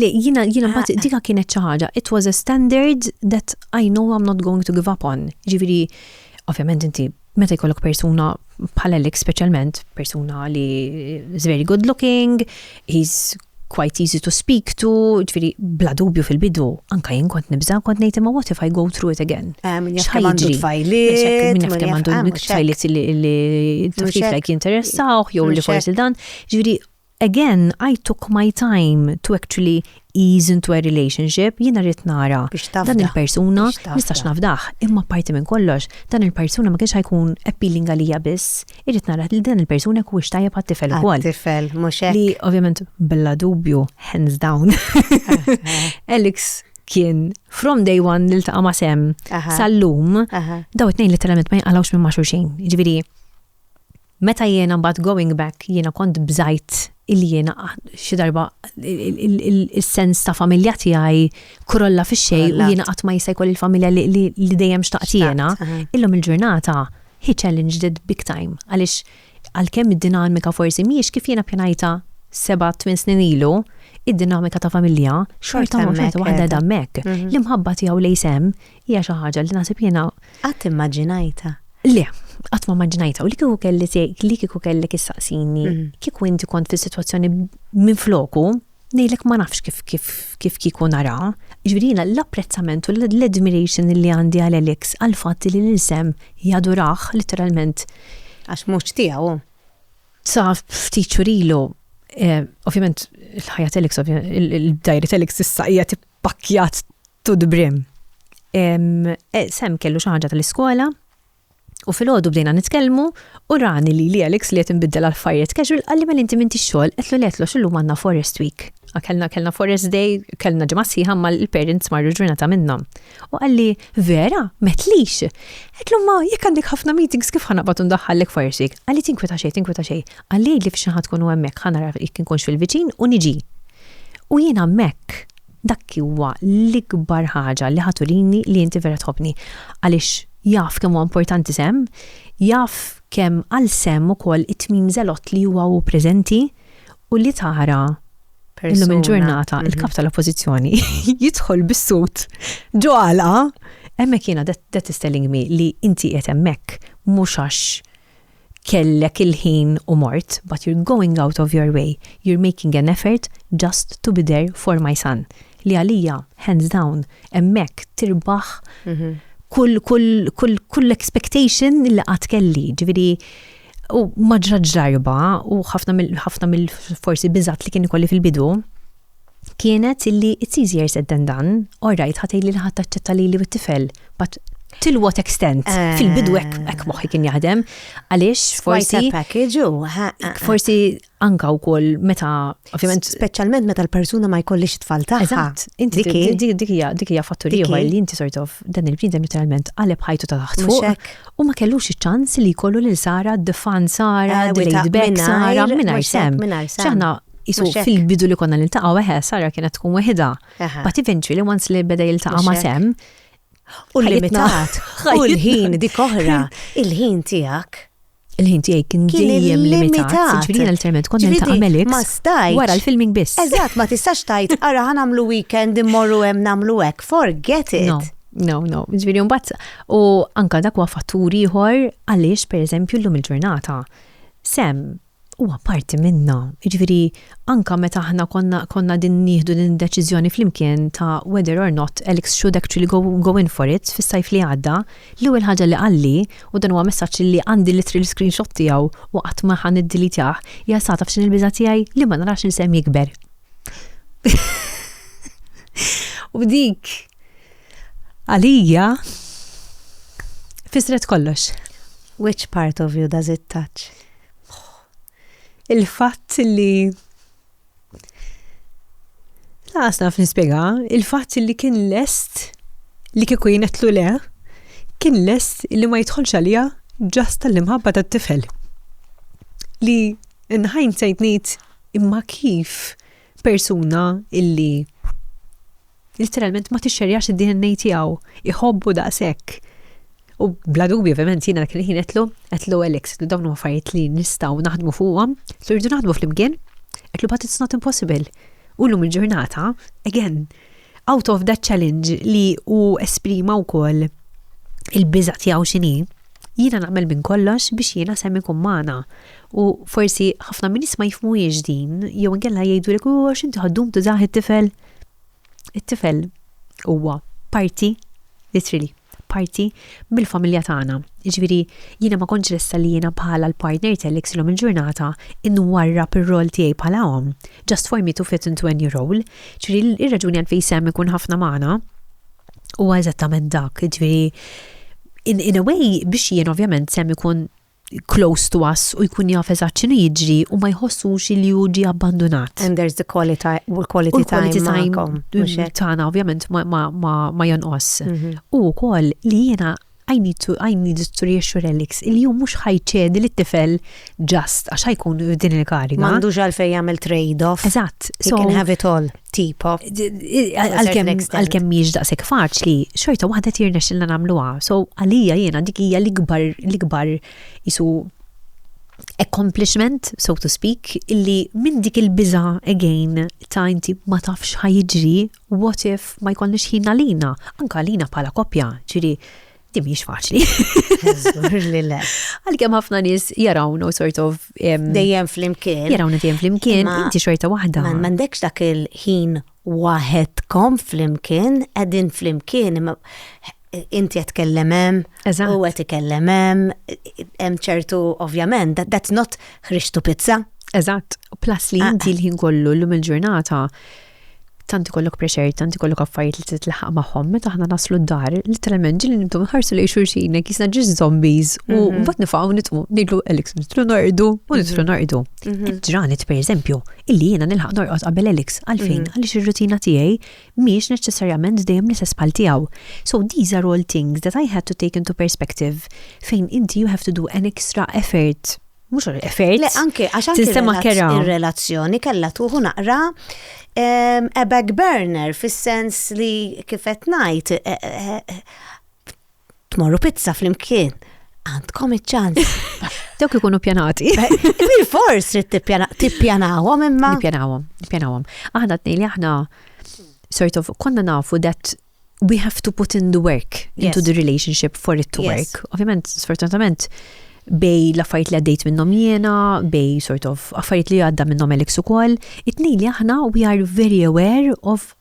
Li jina jina ma ah. dika kienet xi ħaġa, it was a standard that I know I'm not going to give up on. Ġifieri, ovvjament inti meta jkollok persuna bħala lik speċjalment persuna li is very good looking, he's quite easy to speak to, ġviri, bla dubju fil-bidu, anka jien kont nibza, kont nejt imma what if I go through it again? Eh, minn jaf għandu tfajliet, minn jaf għandu tfajliet li t-tiflek jinteressaw, jew li forsi dan, ġviri, Again, I took my time to actually ease into a relationship, jiena rrid nara dan il-persuna, nistax nafdah, imma parti minn kollox, dan il-persuna ma kienx ħajkun appealing għalija biss, irrid nara li dan il-persuna jkun tajjeb għat-tifel ukoll. Tifel, mhux hekk. Li ovvjament bella dubju, hands down. Alex kien from day one li ltaqa' ma' sem sal-lum, daw it-tnejn letteralment ma jinqalgħux minn ma' xulxin. Ġifieri, Meta jiena mbagħad going back jiena kont bżajt illi jiena xi darba is-sens ta' familja tiegħi krolla fix-xejn u jiena qatt ma jista' jkolli l-familja li dejjem xtaqt jiena. Illum il-ġurnata hi challenge that big time għaliex għalkemm id-dinamika forsi mhijiex kif jiena pjanajtha seba' tmien snin ilu, id-dinamika ta' familja xorta waħda qegħda hemmhekk. L-imħabba tiegħu lejn Sam Hija xi ħaġa li naħseb jiena. Qatt immaġinajtha. Le, qatt ma immaġinajtha u li kieku kelli li kieku kellek issaqsini, mm. kieku inti kont fis-sitwazzjoni minn floku, nejlek ma nafx kif kif kif kiku nara. Ġvirina l-apprezzament u l-admiration li għandi għal Alex għal fatt li l-insem jaduraħ literalment. Għax mux tijaw. Sa ftit xurilu, eh, ovvjament il-ħajja Alex, il-dajri Alex issa hija pakkjat to the brim. E, Sam kellu xi ħaġa tal-iskola u fil-ħodu bdejna nitkellmu u rani li li Alex li qed inbiddel għal fajjet casual qalli mel inti minti xogħol qed li qed xillu manna Forest Week. Kellna kellna Forest Day, kellna ġimgħa sħiħa ma l-parents marru ġurnata minnhom. U qalli vera, metlix. Qed ma jekk għandek ħafna meetings kif ħana batu ndaħħallek Forest Week. Qalli tinkweta xejn, tinkweta xejn. Qalli li f'xi ħadd tkun hemmhekk ħana jekk inkunx fil-viċin u niġi. U jien hemmhekk, dak huwa l-ikbar ħaġa li ħa turini li inti vera tħobbni. Għaliex jaf kemm huwa importanti sehem, jaf kemm għal sehem ukoll it-tmim żelott li huwa hu preżenti u li tara illum il-ġurnata mhm. il-Kap tal-Oppożizzjoni jidħol bis-sut ġo għalqa hemmhekk jiena that is telling me li inti qiegħed hemmhekk mhux għax kellek il-ħin u mort, but you're going out of your way, you're making an effort just to be there for my son. Li għalija, hands down, hemmhekk tirbaħ kull expectation li qatt kelli. Ġifieri u maġra ġarba u ħafna mill-forsi biżat li kien ikolli fil-bidu, kienet illi it's easier said than done, all right, ħa tgħidli li ħadd taċċetta lili u t-tifel, but till what extent? Eh. Fil-bidu hekk hekk moħħi kien jaħdem, għaliex Forsi forsi package u. ha, ha, ha. forsi anka wkoll meta ovvjament Speċjalment meta l-persuna ma jkollix tfal tagħha. Eżatt, inti Dik hi. dik- dik hija dik hija fattur Dik hi. ieħor li inti sort of dan il-bniedem literalment qaleb ħajtu ta' taħt Mhux fuq hekk. u ma kellux iċ-ċans li jkollu lil Sara d-defan Sara, Eh, delayed without- back mingħajr- Sara mhux mingħajr hekk, sem. mingħajr sem. X'aħna Isu fil-bidu li konna niltaqgħu eħe, Sara kienet tkun weħida. But eventually once li beda jiltaqa' ma' sem. U limitat. U l-ħin dik oħra, il-ħin tiegħek. Il-ħin tiegħi kien dejjem limitat. Ġifieri l-terment kont niltaqa' Melix. Ma stajt. Wara l-filming biss. Eżatt, ma tistax tajt ara ħan nagħmlu weekend immorru hemm nagħmlu hekk. Forget it. No. No, no, ġviri mbatt, u anka dak huwa fattur ieħor għaliex pereżempju llum il-ġurnata. Sem, huwa parti minna. Jiġifieri anke meta aħna konna konna din nieħdu din id-deċiżjoni flimkien ta' whether or not Alex should actually go, go in for it fis-sajf li għadda, l-ewwel ħaġa li qalli, u dan huwa messaġġ li għandi literally screenshot tiegħu u qatt ma ħa niddilitjah, hija sa taf x'inhi l-biża' tiegħi? Li ma narax lil Sam jikber. u dik għalija fisret kollox. Which part of you does it touch? Il-fatt li Laqas naf nispjega, il-fatt li kien lest li kieku jinetlu le, kien lest li ma jidħolx għalija ġast tal-imħabba tat-tifel. Li in hindsight ngħid imma kif? Persuna illi literalment ma tixxerjax id-DNA tiegħu, iħobbu daqshekk. U bla dubju ovvjament jiena dak il-ħin qedlu, qedlu Alex, li dawn huma affarijiet li nistgħu naħdmu fuqhom, li rridu naħdmu flimkien, qedlu but it's not impossible. U llum il-ġurnata, again, Out of that challenge li u esprima wkoll il-biża tiegħu x'inhi, jiena naqbel minn kollox biex jiena sem ikun magħna. U forsi ħafna minn nies ma jifmuhiex din, jew inkella jgħidu li huwa x'inti ħaddum tużah it-tifel. It-tifel huwa parti literally. parti mill-familja tagħna. Jiġifieri jiena ma kontx lesta li jiena bħala l-partner tiegħek slum il-ġurnata inwarrab ir-role tiegħi bħala omm, just for me to fit into any role. Jiġifieri r-raġuni għalfejn Sam ikun ħafna magħna huwa eżattament dak, jiġifieri in a way biex jien ovvjament Sam ikun close to us u jkun jaf eżatt x'inhu jiġri u ma jħossux li hu ġie abbandunat. And there's the quality u l-quality time magħkom. Tagħna ovvjament ma jonqos. Mhm. U wkoll li jiena I need to I need to reassure Alex il jum mhux ħajċedi li tifel just għax ħajkun din il-kariga. M'għandux għalfejn jagħmel trade-off. Eżatt. So can have it all. tipo. Għalkemm miex daqshekk faċli, xorta waħda tirna xilna nagħmluha. So għalija jiena dik hija l-ikbar l-ikbar isu accomplishment, so to speak, illi minn dik il-biża again ta' inti ma tafx ħajġri, what if ma jkollniex ħin għalina, anka għalina bħala koppja, ġiri Di mhix faċli. Għalkemm ħafna nies jarawnu sort of dejjem flimkien. Jarawna dejjem flimkien, inti xorta waħda. Ma m'għandekx dak il-ħin waħedkom flimkien, qegħdin flimkien inti qed kellem hemm, u qed ikellem hemm, hemm ċertu ovvjament, that's not ħriġtu pizza. Eżatt, plus li ah, inti ah. l-ħin kollu l-lum il-ġurnata. il ġurnata tant ikollok pressure, tant ikollok affarijiet li titlaħaq magħhom, meta aħna naslu d-dar, literalment ġili nibdu nħarsu li xulxin jekk jisna ġis zombies u mhm. mbagħad nifgħu nitqu ngħidlu Alex nitlu norqdu u nitlu mhm. norqdu. Mhm. Ġranet pereżempju, illi jiena nilħaq norqod qabel Alex għalfejn għaliex ir-rutina tiegħi mhix neċessarjament dejjem l-istess bħal tiegħu. So these are all things that I had to take into perspective fejn inti you have to do an extra effort mhux effert. Le anke għax anke Tinsema kera. ir-relazzjoni kellha tuħu naqra em, a back burner fis-sens li kif qed ngħid eh, eh, eh, tmorru pizza flimkien. Għandkom iċ-ċans. Dawk ikunu pjanati. Bil fors trid tippjana- tippjanawhom imma. Nipjanawhom, nipjanawhom. Aħna tnej li aħna sort of konna nafu that we have to put in the work into yes. the relationship for it to yes. work. Ovvjament, sfortunatament, bej l-affarijiet li għaddejt minnhom jiena, bej sort of affarijiet li għadda minnhom Alex ukoll, it-tnejn li aħna we are very aware of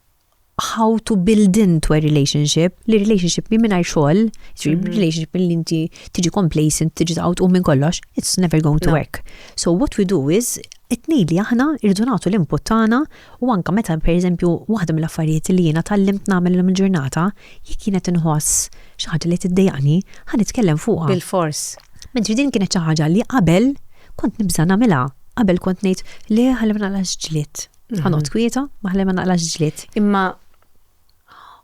how to build into a relationship, li relationship mi minnaj xol, mhm. relationship li inti tiġi complacent, tiġi taqawt u minn kollox, it's never going to work. So what we do is, it-nej li aħna irdu nagħtu l-input tagħna U anke meta, per eżempju, waħda mill-affarijiet li jiena tgħallimt nagħmel illum il-ġurnata, jekk jien qed inħoss xi ħaġa li tiddejjaqni, ħa nitkellem fuqha. Bilfors. Mentri din kienet xi ħaġa li qabel kont nibża' nagħmilha. Qabel kont ngħid, le ħalli ma naqlax ġlied. Ħa noqgħod kwieta, ma ħalli ma naqlax ġlied. Imma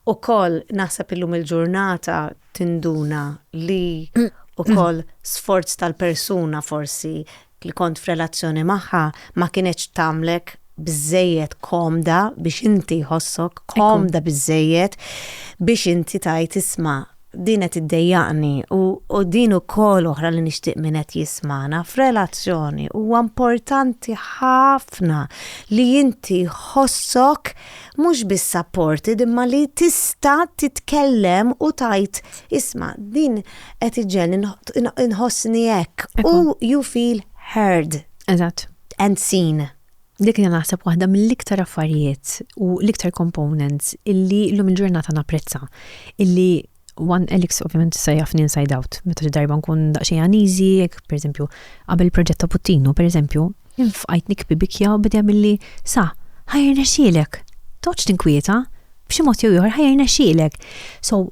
wkoll naħseb illum il-ġurnata tinduna li wkoll sforz tal-persuna forsi li kont f'relazzjoni magħha ma kinetx tagħmlek biżżejjed komda biex inti jħossok komda biżżejjed biex inti tgħid isma' din qed iddejjaqni u din ukoll oħra li nixtieq min qed jismagħna f'relazzjoni huwa importanti ħafna li inti jħossok mhux biss supported imma li tista' titkellem u tgħid Isma', din qed iġġenn, inħossni hekk. U you feel heard. Eżatt. And seen. Dik hija naħseb waħda mill-iktar affarijiet u l-iktar components illi llum il-ġurnata napprezza. Illi one Alex ovvjament issa jafni inside out. Meta xi darba nkun daqsxejn uneasy, jekk pereżempju qabel il-proġett ta' Puttinu, pereżempju, Infqajt nikbi bikja u bidem illi sa, ħajr nexxielek. Toqgħodx tinkwieta, b'xi mod jew ieħor ħajr nexxielek. So,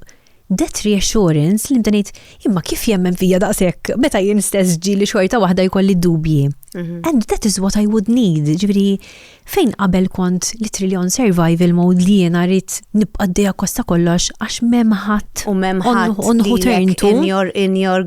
that reassurance li nibda ngħid, imma kif jemmen fija daqshekk meta jien stess ġieli xorta waħda jkolli dubji. Mhm. And that is what I would need, ġifieri fejn qabel kont li triljon survival mode li jiena rrid nibqa' d kosta kollox għax m'hemm ħadd. U m'hemm ħadd. In your, in your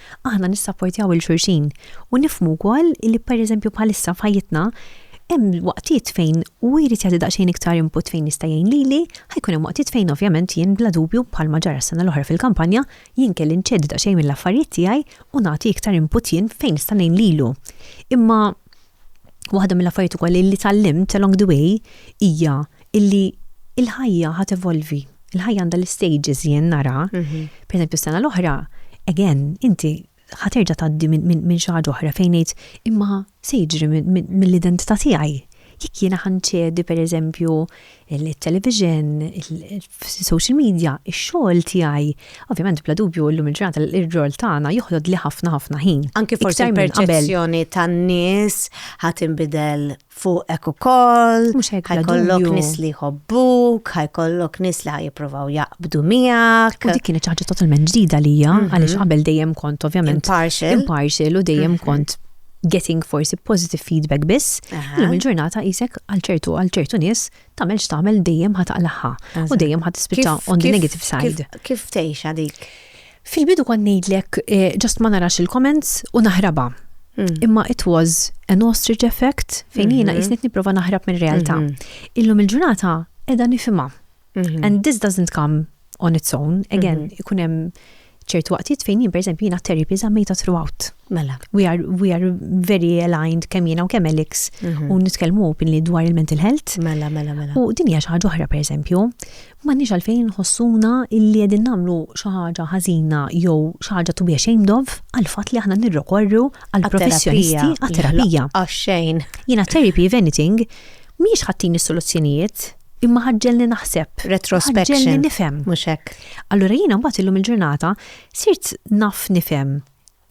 Aħna nissapportjaw il xulxin u nifmu wkoll li pereżempju bħalissa f'ħajjitna hemm waqtiet fejn u jrid jagħti daqsxejn iktar input fejn jista' jgħin lili, ħajkun hemm waqtiet fejn ovvjament jien bla dubju bħalma ġara s-sena l-oħra fil-kampanja jien kelli nċedi daqsxejn mill-affarijiet tiegħi u nagħti iktar input jien fejn nista' ngħin lilu. Imma waħda mill-affarijiet ukoll li tgħallimt along the way hija illi il-ħajja ħa tevolvi. Il-ħajja għandha l-istages jien nara. Mhm. Per eżempju, s-sena l-oħra, again, inti ħaterġa tgħaddi minn xi ħaġa oħra fejn ngħid imma se jiġri mill-identità tiegħi. Jekk jiena ħanċedi per eżempju il-television, il-social media, ix-xogħol tiegħi, ovvjament bla dubju llum il-ġurnata l-rol tagħna joħlod li ħafna ħafna ħin. Anki forsi perċezzjoni tan-nies ħadd inbidel fuqek ukoll, Mhux hekk, bla dubju. ħajkollok nies li jħobbuk, ħajkollok nies li ħajjippruvaw jaqbdu miegħek. U dik kienet xi ħaġa totalment ġdida lija, għaliex qabel dejjem kont ovvjament Impartial. impartial u dejjem kont getting forsi positive feedback biss. Aha. Illum il-ġurnata qisek għal ċertu għal ċertu nies tagħmel x'tagħmel dejjem ħataqlaħħa u dejjem ħatispiċċa Kif- on the kif- negative side. Kif, kif tgħixha dik? Fil-bidu kont ngħidlek ġust ma narax il-comments u naħrabha. Hmm. Imma it was an ostrich effect fejn jiena mhm. jisnit niprofa naħrab minn realtà. Mhm. Illum il-ġurnata edha nifima. Mhm. And this doesn't come on its own. Again, ikun hemm ċertu waqtiet fejn jien pereżempju jiena therapy żammejta throughout. Mela. We are, we are very aligned kemm jiena u kemm Alex u nitkellmu openly dwar il-mental health. Mela, mela, mela. U din hija xi ħaġa oħra pereżempju. M'għandniex għalfejn inħossuna li qegħdin nagħmlu xi ħaġa ħażina jew xi ħaġa to be ashamed of għall-fatt li aħna nirrikorru għal professjonisti għat-terapija. Jiena therapy if anything mhijiex ħattini s-soluzzjonijiet imma ħaġġelni naħseb, ħaġġelni nifhem. Allura jiena mbagħad illum il-ġurnata sirt naf nifhem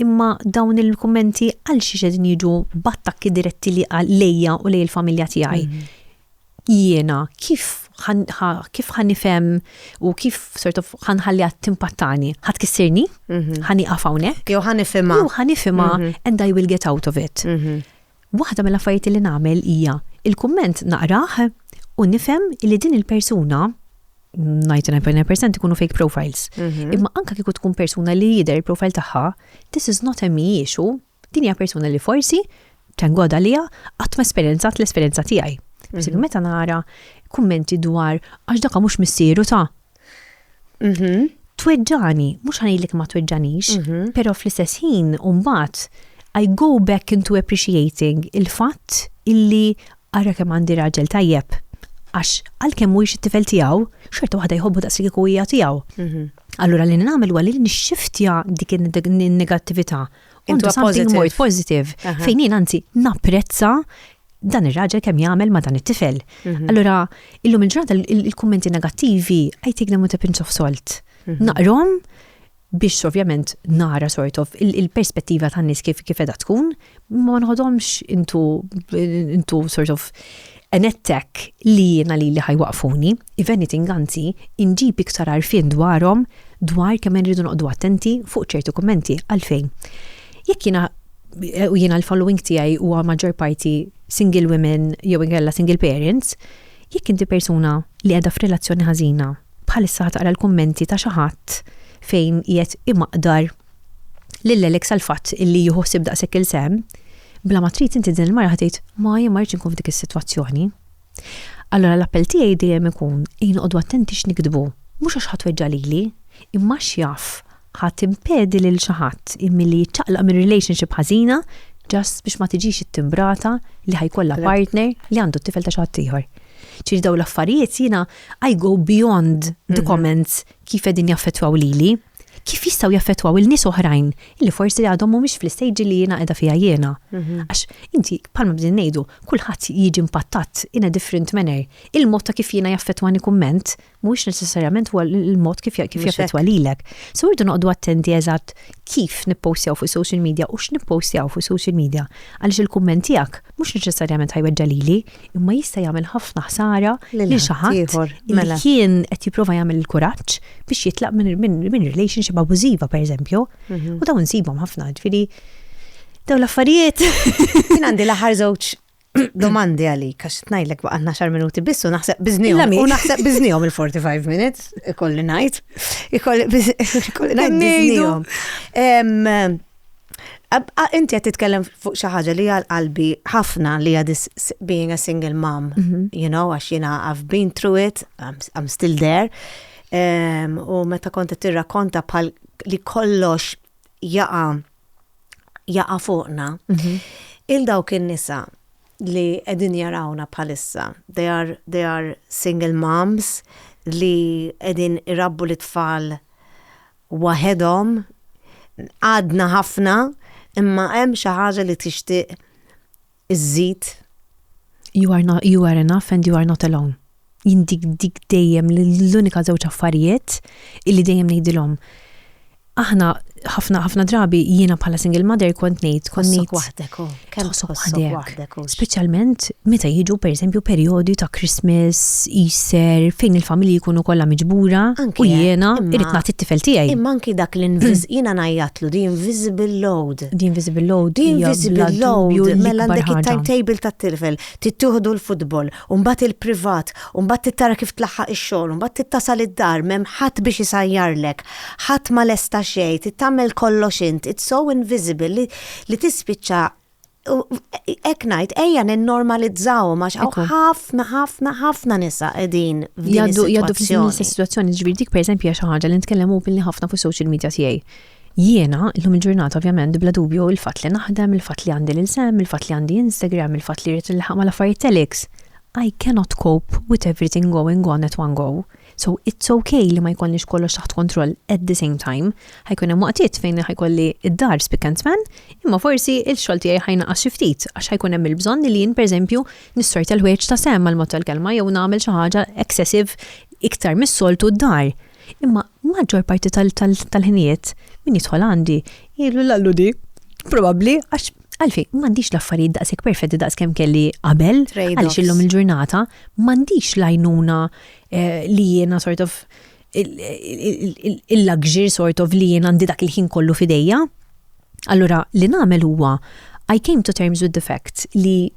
Imma dawn il-kummenti għalxiex qegħdin jiġu b'attakki diretti li lejja u lej il-familja tiegħi? Jiena kif kif ħanifhem u kif sort of ħanħalli għad timpattani? Ħa tkissirni? Mhm. Ħaniqaf hawnhekk? Jew ħanifhimha? Jew ħanifhimha mhm. and I will get out of it. Mhm. Waħda mill-affarijiet li nagħmel hija l-kumment naqrah u nifhem li din il-persuna 99% ikunu fake profiles. Mhm. Imma anka kieku tkun persuna li jidher il-profile tagħha, this is not a me issue, din hija persuna li forsi thank God għalija qatt ma esperjenzat l-esperjenza tiegħi. Mhm. Meta nara kummenti dwar għax daka mhux missieru ta' Mhm. Tweġġani, mhux ħanejlek ma tweġġanix, mhm. però fl-istess ħin mbagħad I go back into appreciating il-fatt illi ara kemm għandi raġel tajjeb għax għalkemm mhuwiex it-tifel tiegħu, xorta waħda jħobbu daqs li kieku hija tiegħu. Mhm. Allura li nagħmel huwa li nixxiftja dik in-negattività. Into something more positive. Fejn jien anzi napprezza dan ir-raġel kemm jagħmel ma' dan it-tifel. Mhm. Allura, illum il-ġurnata il-kummenti negattivi I take them with a pinch of salt. Mhm. Naqrom biex ovvjament nara sort of il-perspettiva tan nies kif kif edha tkun, ma nħodomx intu intu sort of an attack li jiena li li ħajwaqfuni, if anything anzi, inġib iktar arfin dwarhom dwar kemm irridu noqdu attenti fuq ċertu kummenti għalfejn. Jekk jiena eh, u jiena l-following tiegħi huwa maġġor parti single women jew inkella single parents, jekk inti persuna li qiegħda f'relazzjoni ħażina, bħalissa taqra l-kummenti ta' xi ħadd fejn qiegħed imaqdar lil Alex għal fatt illi jieħu ħsieb daqshekk il-sem, bla ma trid inti din il-mara ħatejt ma jien ma rridx inkun f'dik is-sitwazzjoni. Allura l-appell tiegħi dejjem ikun inqogħdu attenti x'niktbu, mhux għax ħadd weġġa' lili, imma għax jaf ħa timpedi lil xi ħadd milli jiċċaqlaq minn relationship ħażina just biex ma tiġix ittimbrata li ħa jkollha partner li għandu t-tifel ta' xi ħadd ieħor. Ġifieri dawn l-affarijiet jiena I go beyond the mhm. comments kif qegħdin jaffettwaw lili. kif jistgħu jaffettwaw il-nies oħrajn li forsi għadhom mhumiex fl-istejġi li jiena qiegħda fiha jiena. Mhm. Għax inti bħalma bdin ngħidu, kulħadd jiġi impattat in a different manner. Il-mod ta' kif jiena jaffettwani kumment mhuwiex necessarjament huwa il-mod kif kif jaffettwa lilek. So irdu noqogħdu attenti eżatt kif nippostjaw fuq social media u x'nippostjaw fuq social media għaliex il-kumment tiegħek mhux neċessarjament ħajweġġa' lili, imma jista' jagħmel ħafna ħsara lil xi ħadd li mela. kien qed jipprova jagħmel il-kuraġġ biex jitlaq minn relationship abużiva pereżempju. Mhm. U dawn insibhom ħafna, ġifieri dawn l-affarijiet. Kien għandi l-aħħar żewġ domandi għalik, għax tnajlek baqanna xar minuti biss u naħseb biznijom. U naħseb biznijom il-45 minutes, ikolli najt. Ikolli najt biznijom. Inti qed titkellem fuq xi ħaġa li għal qalbi ħafna li hija being a single mom, mhm. you know, għax jiena I've been through it, I'm still there. U meta kont qed tirrakkonta bħal li kollox jaqa jaqa fuqna. Mhm. Il dawk in-nisa li qegħdin jarawna bħalissa, they are, they are single moms li qegħdin irabbu l-tfal waħedhom, għadna ħafna, imma hemm xi ħaġa li tixtieq iżżid? You are, not, you are enough and you are not alone. Jien dik dik dejjem l-unika żewġ affarijiet illi dejjem ngħidilhom. Aħna ħafna ħafna drabi jiena bħala single mother kont ngħid kont ngħid waħdek. Oh. Kemm tħossok waħdek hux? Speċjalment meta jiġu pereżempju perjodi ta' Christmas, Easter, fejn il-familji jkunu kollha miġbura u jiena irrid nagħti t-tifel tiegħi. Imma anki dak li jiena ngħajjatlu the invisible load. The invisible load. The invisible load. Mela għandek it-timetable tat-tifel, tittieħdu l-futbol, u mbagħad il-privat, u mbagħad tittara kif tlaħħaq ix-xogħol, u mbagħad tittasal id-dar, m'hemm ħadd biex isajjarlek, ħadd ma lesta xejn, trid tagħmel kollox int, it's so invisible li li tispiċċa ek najt, ejja n-normalizzaw, max ħafna, ħafna, ħafna nisa edin. Jaddu, jaddu fil situazzjoni ġviri dik per eżempju xi ħaġa li nitkellem u billi ħafna fuq social media tiegħi. Jiena, illum il-ġurnata ovvjament, bla dubju il-fat li naħdem, il-fat li għandi l-insem, il-fat li għandi Instagram, il-fat li rrit il-ħama l-affarijiet telex. I cannot cope with everything going on at one go. So it's okay li ma jkollniex kollox taħt kontroll at the same time. Ħajkun hemm waqtiet fejn ħajkolli id-dar spick and span, imma forsi il-xogħol tiegħi ħajnaqas xi ftit għax ħajkun hemm il-bżonn li jien pereżempju nissorta l-ħwejġ ta' sem għal mod tal-kelma jew nagħmel xi ħaġa excessive iktar mis-soltu d-dar. Imma maġġor parti tal-ħinijiet min jidħol għandi jgħidu l-allu di. Probabbli għax għalfi, mandiċ l-affarijiet daqsek perfetti daqs kem kelli qabel, għalix illum il-ġurnata, mandiċ lajnuna Eh, li jiena sort of il-luxury sort of li jiena għandi dak il-ħin kollu fidejja. Allura, li nagħmel huwa I came to terms with the fact li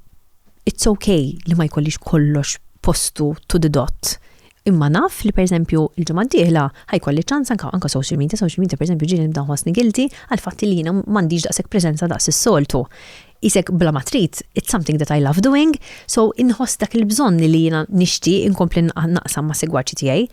it's okay li ma jkollix kollox postu to the dot. Imma naf li pereżempju il-ġimgħa d-dieħla ħajkolli ċans anka anka social media, social media pereżempju ġieli nibda ħossni gilti għal fatti li jiena m'għandix daqshekk preżenza daqs is-soltu. isek bla ma trid, it's something that I love doing, so inħoss dak il-bżonn li jiena nixtieq inkompli naqsam ma' segwaċi tiegħi,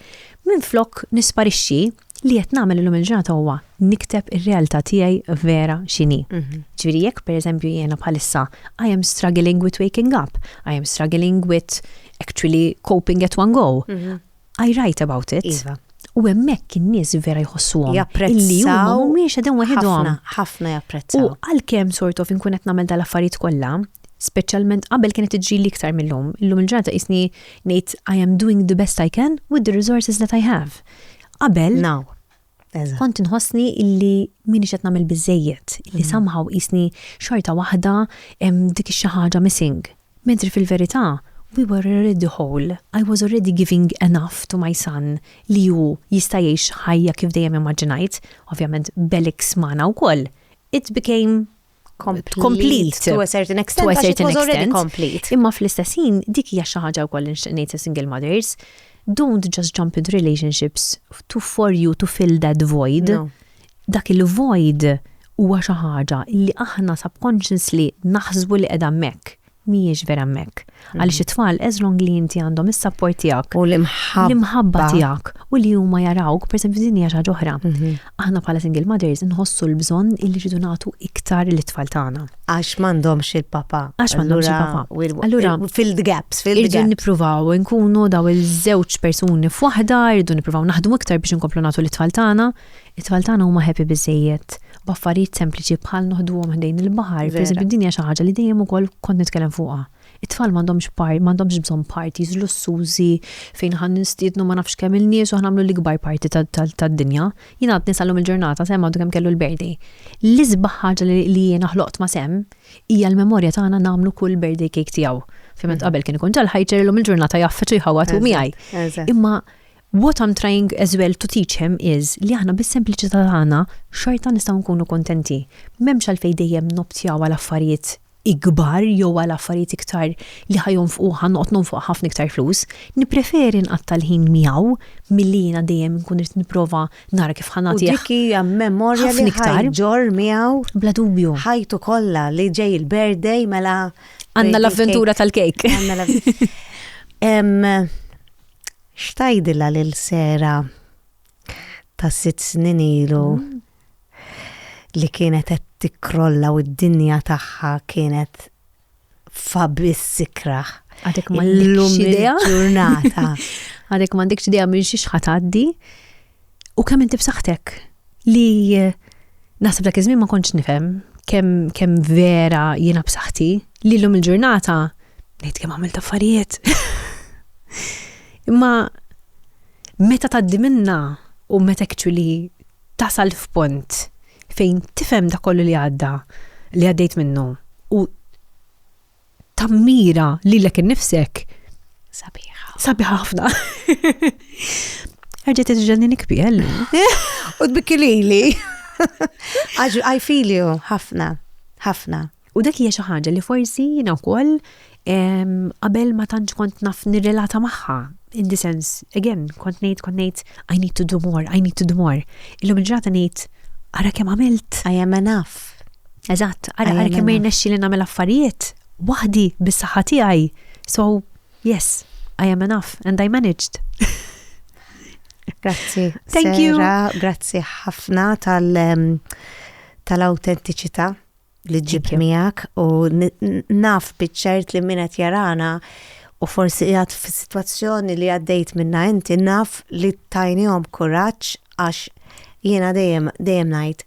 minn flok nisparixxi li qed nagħmel illum il-ġurnata huwa nikteb ir-realtà tiegħi vera x'inhi. Mhm. Ġifieri jekk pereżempju jiena bħalissa I am struggling with waking up, I am struggling with actually coping at one go. Mhm. I write about it. Iva. U hemmhekk in-nies vera jħossuhom. Japprezzaw. Li huma mhumiex qegħdin waħedhom. Ħafna japprezzaw. U għalkemm sort of inkun qed nagħmel dal-affarijiet kollha, speċjalment qabel kienet tiġri li iktar mill-lum. Illum il-ġurnata isni ngħid I am doing the best I can with the resources that I have. Qabel. Now. Kont inħossni illi minix qed nagħmel biżejjed, illi mm. somehow qisni xorta waħda dik xi ħaġa missing. Mentri fil-verità, we were already whole. I was already giving enough to my son li hu jista' jgħix ħajja kif dejjem immaġinajt, ovvjament Belix magħna wkoll. It became complete to a certain extent, to a certain extent, complete. Imma fl-istessin, dik hija xi ħaġa wkoll ngħid ta' single mothers, don't just jump into relationships to for you to fill that void. No. Dak il-void huwa xi ħaġa li aħna subconsciously naħsbu li qiegħda hemmhekk. mhijiex vera hemmhekk. Għaliex it-tfal as long li inti għandhom is-sapport tiegħek. U l-imħabba. L-imħabba tiegħek u li huma jarawk, per esempio, din hija xi ħaġa oħra. Mhm. Aħna bħala single mothers nħossu l-bżonn illi rridu nagħtu iktar lit-tfal tagħna. Għax m'għandhomx il-papa. Għax m'għandhomx il-papa. Allura filled gaps, filled gaps. Irridu nippruvaw nkunu daw il-żewġ persuni f'waħda, irridu nippruvaw naħdmu iktar biex inkomplu nagħtu lit-tfal tagħna, It-tfal tagħna huma happy biżżejjed b'affarijiet sempliċi bħal noħduhom ħdejn il-baħar. Per eżempju, din hija xi ħaġa li dejjem ukoll kont nitkellem fuqha. It-tfal m'għandhomx par, m'għandhomx bżonn parties lussużi fejn aħna ninstiednu ma nafx kemm il-nies u aħna nagħmlu l-ikbar party tad-dinja. Jien għadni sal-lum il-ġurnata Sam għadu kemm kellu l-birthday. L-isbaħ ħaġa li jiena ħloqt ma' Sam hija l-memorja tagħna nagħmlu kull birthday cake tiegħu. Ovvjament qabel kien ikun ġa l-ħajt ġej illum il-ġurnata jgħaffeġ u jħawwad hu miegħi. Imma What I'm trying as well to teach him is li aħna bis-sempliċità tagħna xorta nistgħu nkunu kuntenti. M'hemmx għalfejn dejjem noptjaw għal affarijiet ikbar jew għal affarijiet iktar li ħa jonfqu ħa noqgħod nonfoq ħafna iktar flus. Nippreferi nqatta' l-ħin miegħu milli jiena dejjem inkun irid nipprova nara kif ħa nagħtih ħafna iktar. U dik hija memorja li ħa jġorr miegħu. Bla dubju. Ħajtu kollha li ġej il-birthday mela. Għandna l-avventura tal-kejk. X'tgħidilha lil Sarah ta' sitt snin ilu li kienet qed tikkrolla u d-dinja tagħha kienet f'abiss ikrah? Għadek m'għandekx idea. Illum il-ġurnata. Għadek m'għandekx idea minn xiex ħa tgħaddi. U kemm inti b'saħħtek li naħseb dak iż-żmien ma kontx nifhem kemm kemm vera jiena b'saħħti li llum il-ġurnata ngħid kemm għamilt affarijiet. Imma meta tgħaddi minna u meta actually tasal f'punt fejn tifhem da kollu li għadda li għaddejt minnu u tammira lilek innifsek. Sabiħa. Sabiħa ħafna. Erġa' tiġġenni nikbiel. U tbikki lili. Għax I feel you ħafna, ħafna. U dak hija xi ħaġa li forsi jiena wkoll qabel ma tantx kont naf nirrelata magħha. In the sense, again, kont ngħid kont ngħid I need to do more, I need to do more. Illum il-ġrata ngħid ara kemm għamilt. I am enough. Eżatt, għara għara kemm jirnexxi li nagħmel affarijiet waħdi bis-saħħa tiegħi. So, yes, I am enough and I managed. Grazzi. Thank you. Grazzi ħafna tal- um, tal-autentiċità li ġib miegħek u naf biċċert li min qed jarana u forsi qiegħed fis-sitwazzjoni li għaddejt minna inti naf li tajnihom kuraġġ għax jiena dejjem dejjem ngħid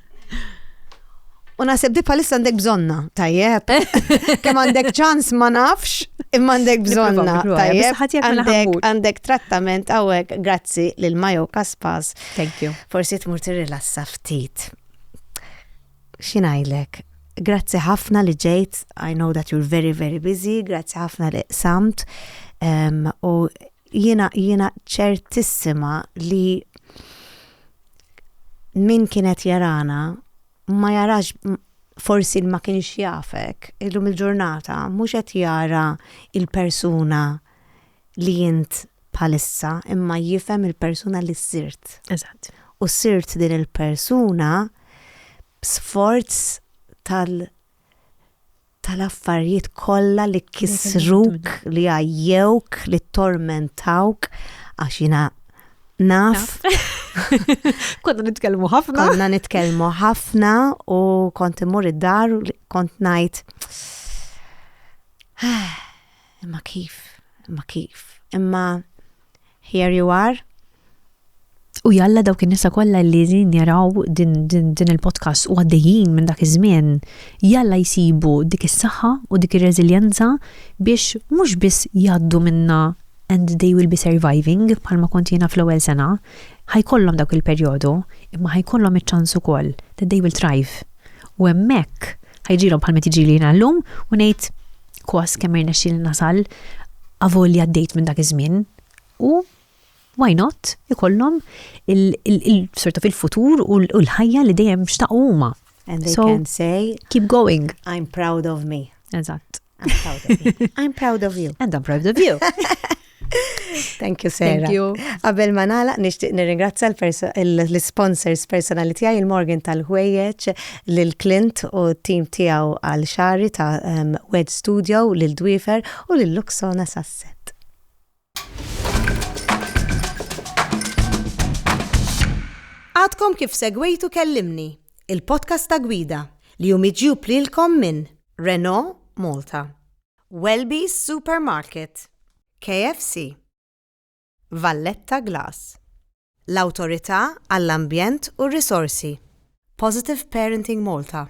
U naħseb di palissa għandek bżonna, tajjeb. Kem għandek ċans ma nafx, imma għandek bżonna, tajjeb. Għandek trattament għawek, grazzi lil Majo Kaspas. Thank you. Forsi tmur tirrilassa ftit. Xinajlek, grazzi ħafna li ġejt, I know that you're very, very busy, grazzi ħafna li samt. Um, u Jiena jiena ċertissima li min kienet jarana ma jarax forsi ma kienx jafek illum il-ġurnata mhux qed jara il-persuna li int bħalissa imma jifhem il-persuna li sirt. Eżatt. U sirt din il-persuna b'sforz tal- tal-affarijiet kollha li kissruk, li għajjewk, li tormentawk, għax jina naf. Konna nitkellmu ħafna. Konna nitkellmu ħafna u kont imur id-dar u kont ngħid. Imma kif? Imma kif? Imma here you are. U jalla dawk in-nisa kollha li din jaraw din, din, din il-podcast u għaddejjin minn dak iż-żmien, jalla jsibu dik is-saħħa u dik ir-reżiljenza biex mhux biss jgħaddu minnha and they will be surviving bħalma kont jiena fl-ewwel sena, ħajkollhom dawk il-perjodu, imma ħajkollhom iċ-ċans ukoll that they will thrive. U hemmhekk ħajġilhom bħalma tiġi li jiena llum u ngħid kwas kemm irnexxieli nasal avolja għaddejt minn dak iż-żmien u why not ikollhom il-sorta fil-futur u l-ħajja li dejjem xtaqu huma. And they so, can say, keep going. I'm proud of me. Eżatt. I'm proud of me. I'm proud of you. And I'm proud of you. Thank you, Sarah. Thank you. Qabel ma nagħlaq nixtieq nirringrazzja l-sponsors personali tiegħi il-Morgan tal-ħwejjeġ lil Clint u t-tim tiegħu għal xari ta' ehm, Wed Studio lil Dwifer u lil Luxona Sasset. Għadkom kif segwejtu kellimni, il-podcast ta' gwida li jumiġju plilkom minn Renault Malta. Welby's Supermarket, KFC, Valletta Glass, l-Awtorità għall-Ambjent u r-Risorsi, Positive Parenting Malta,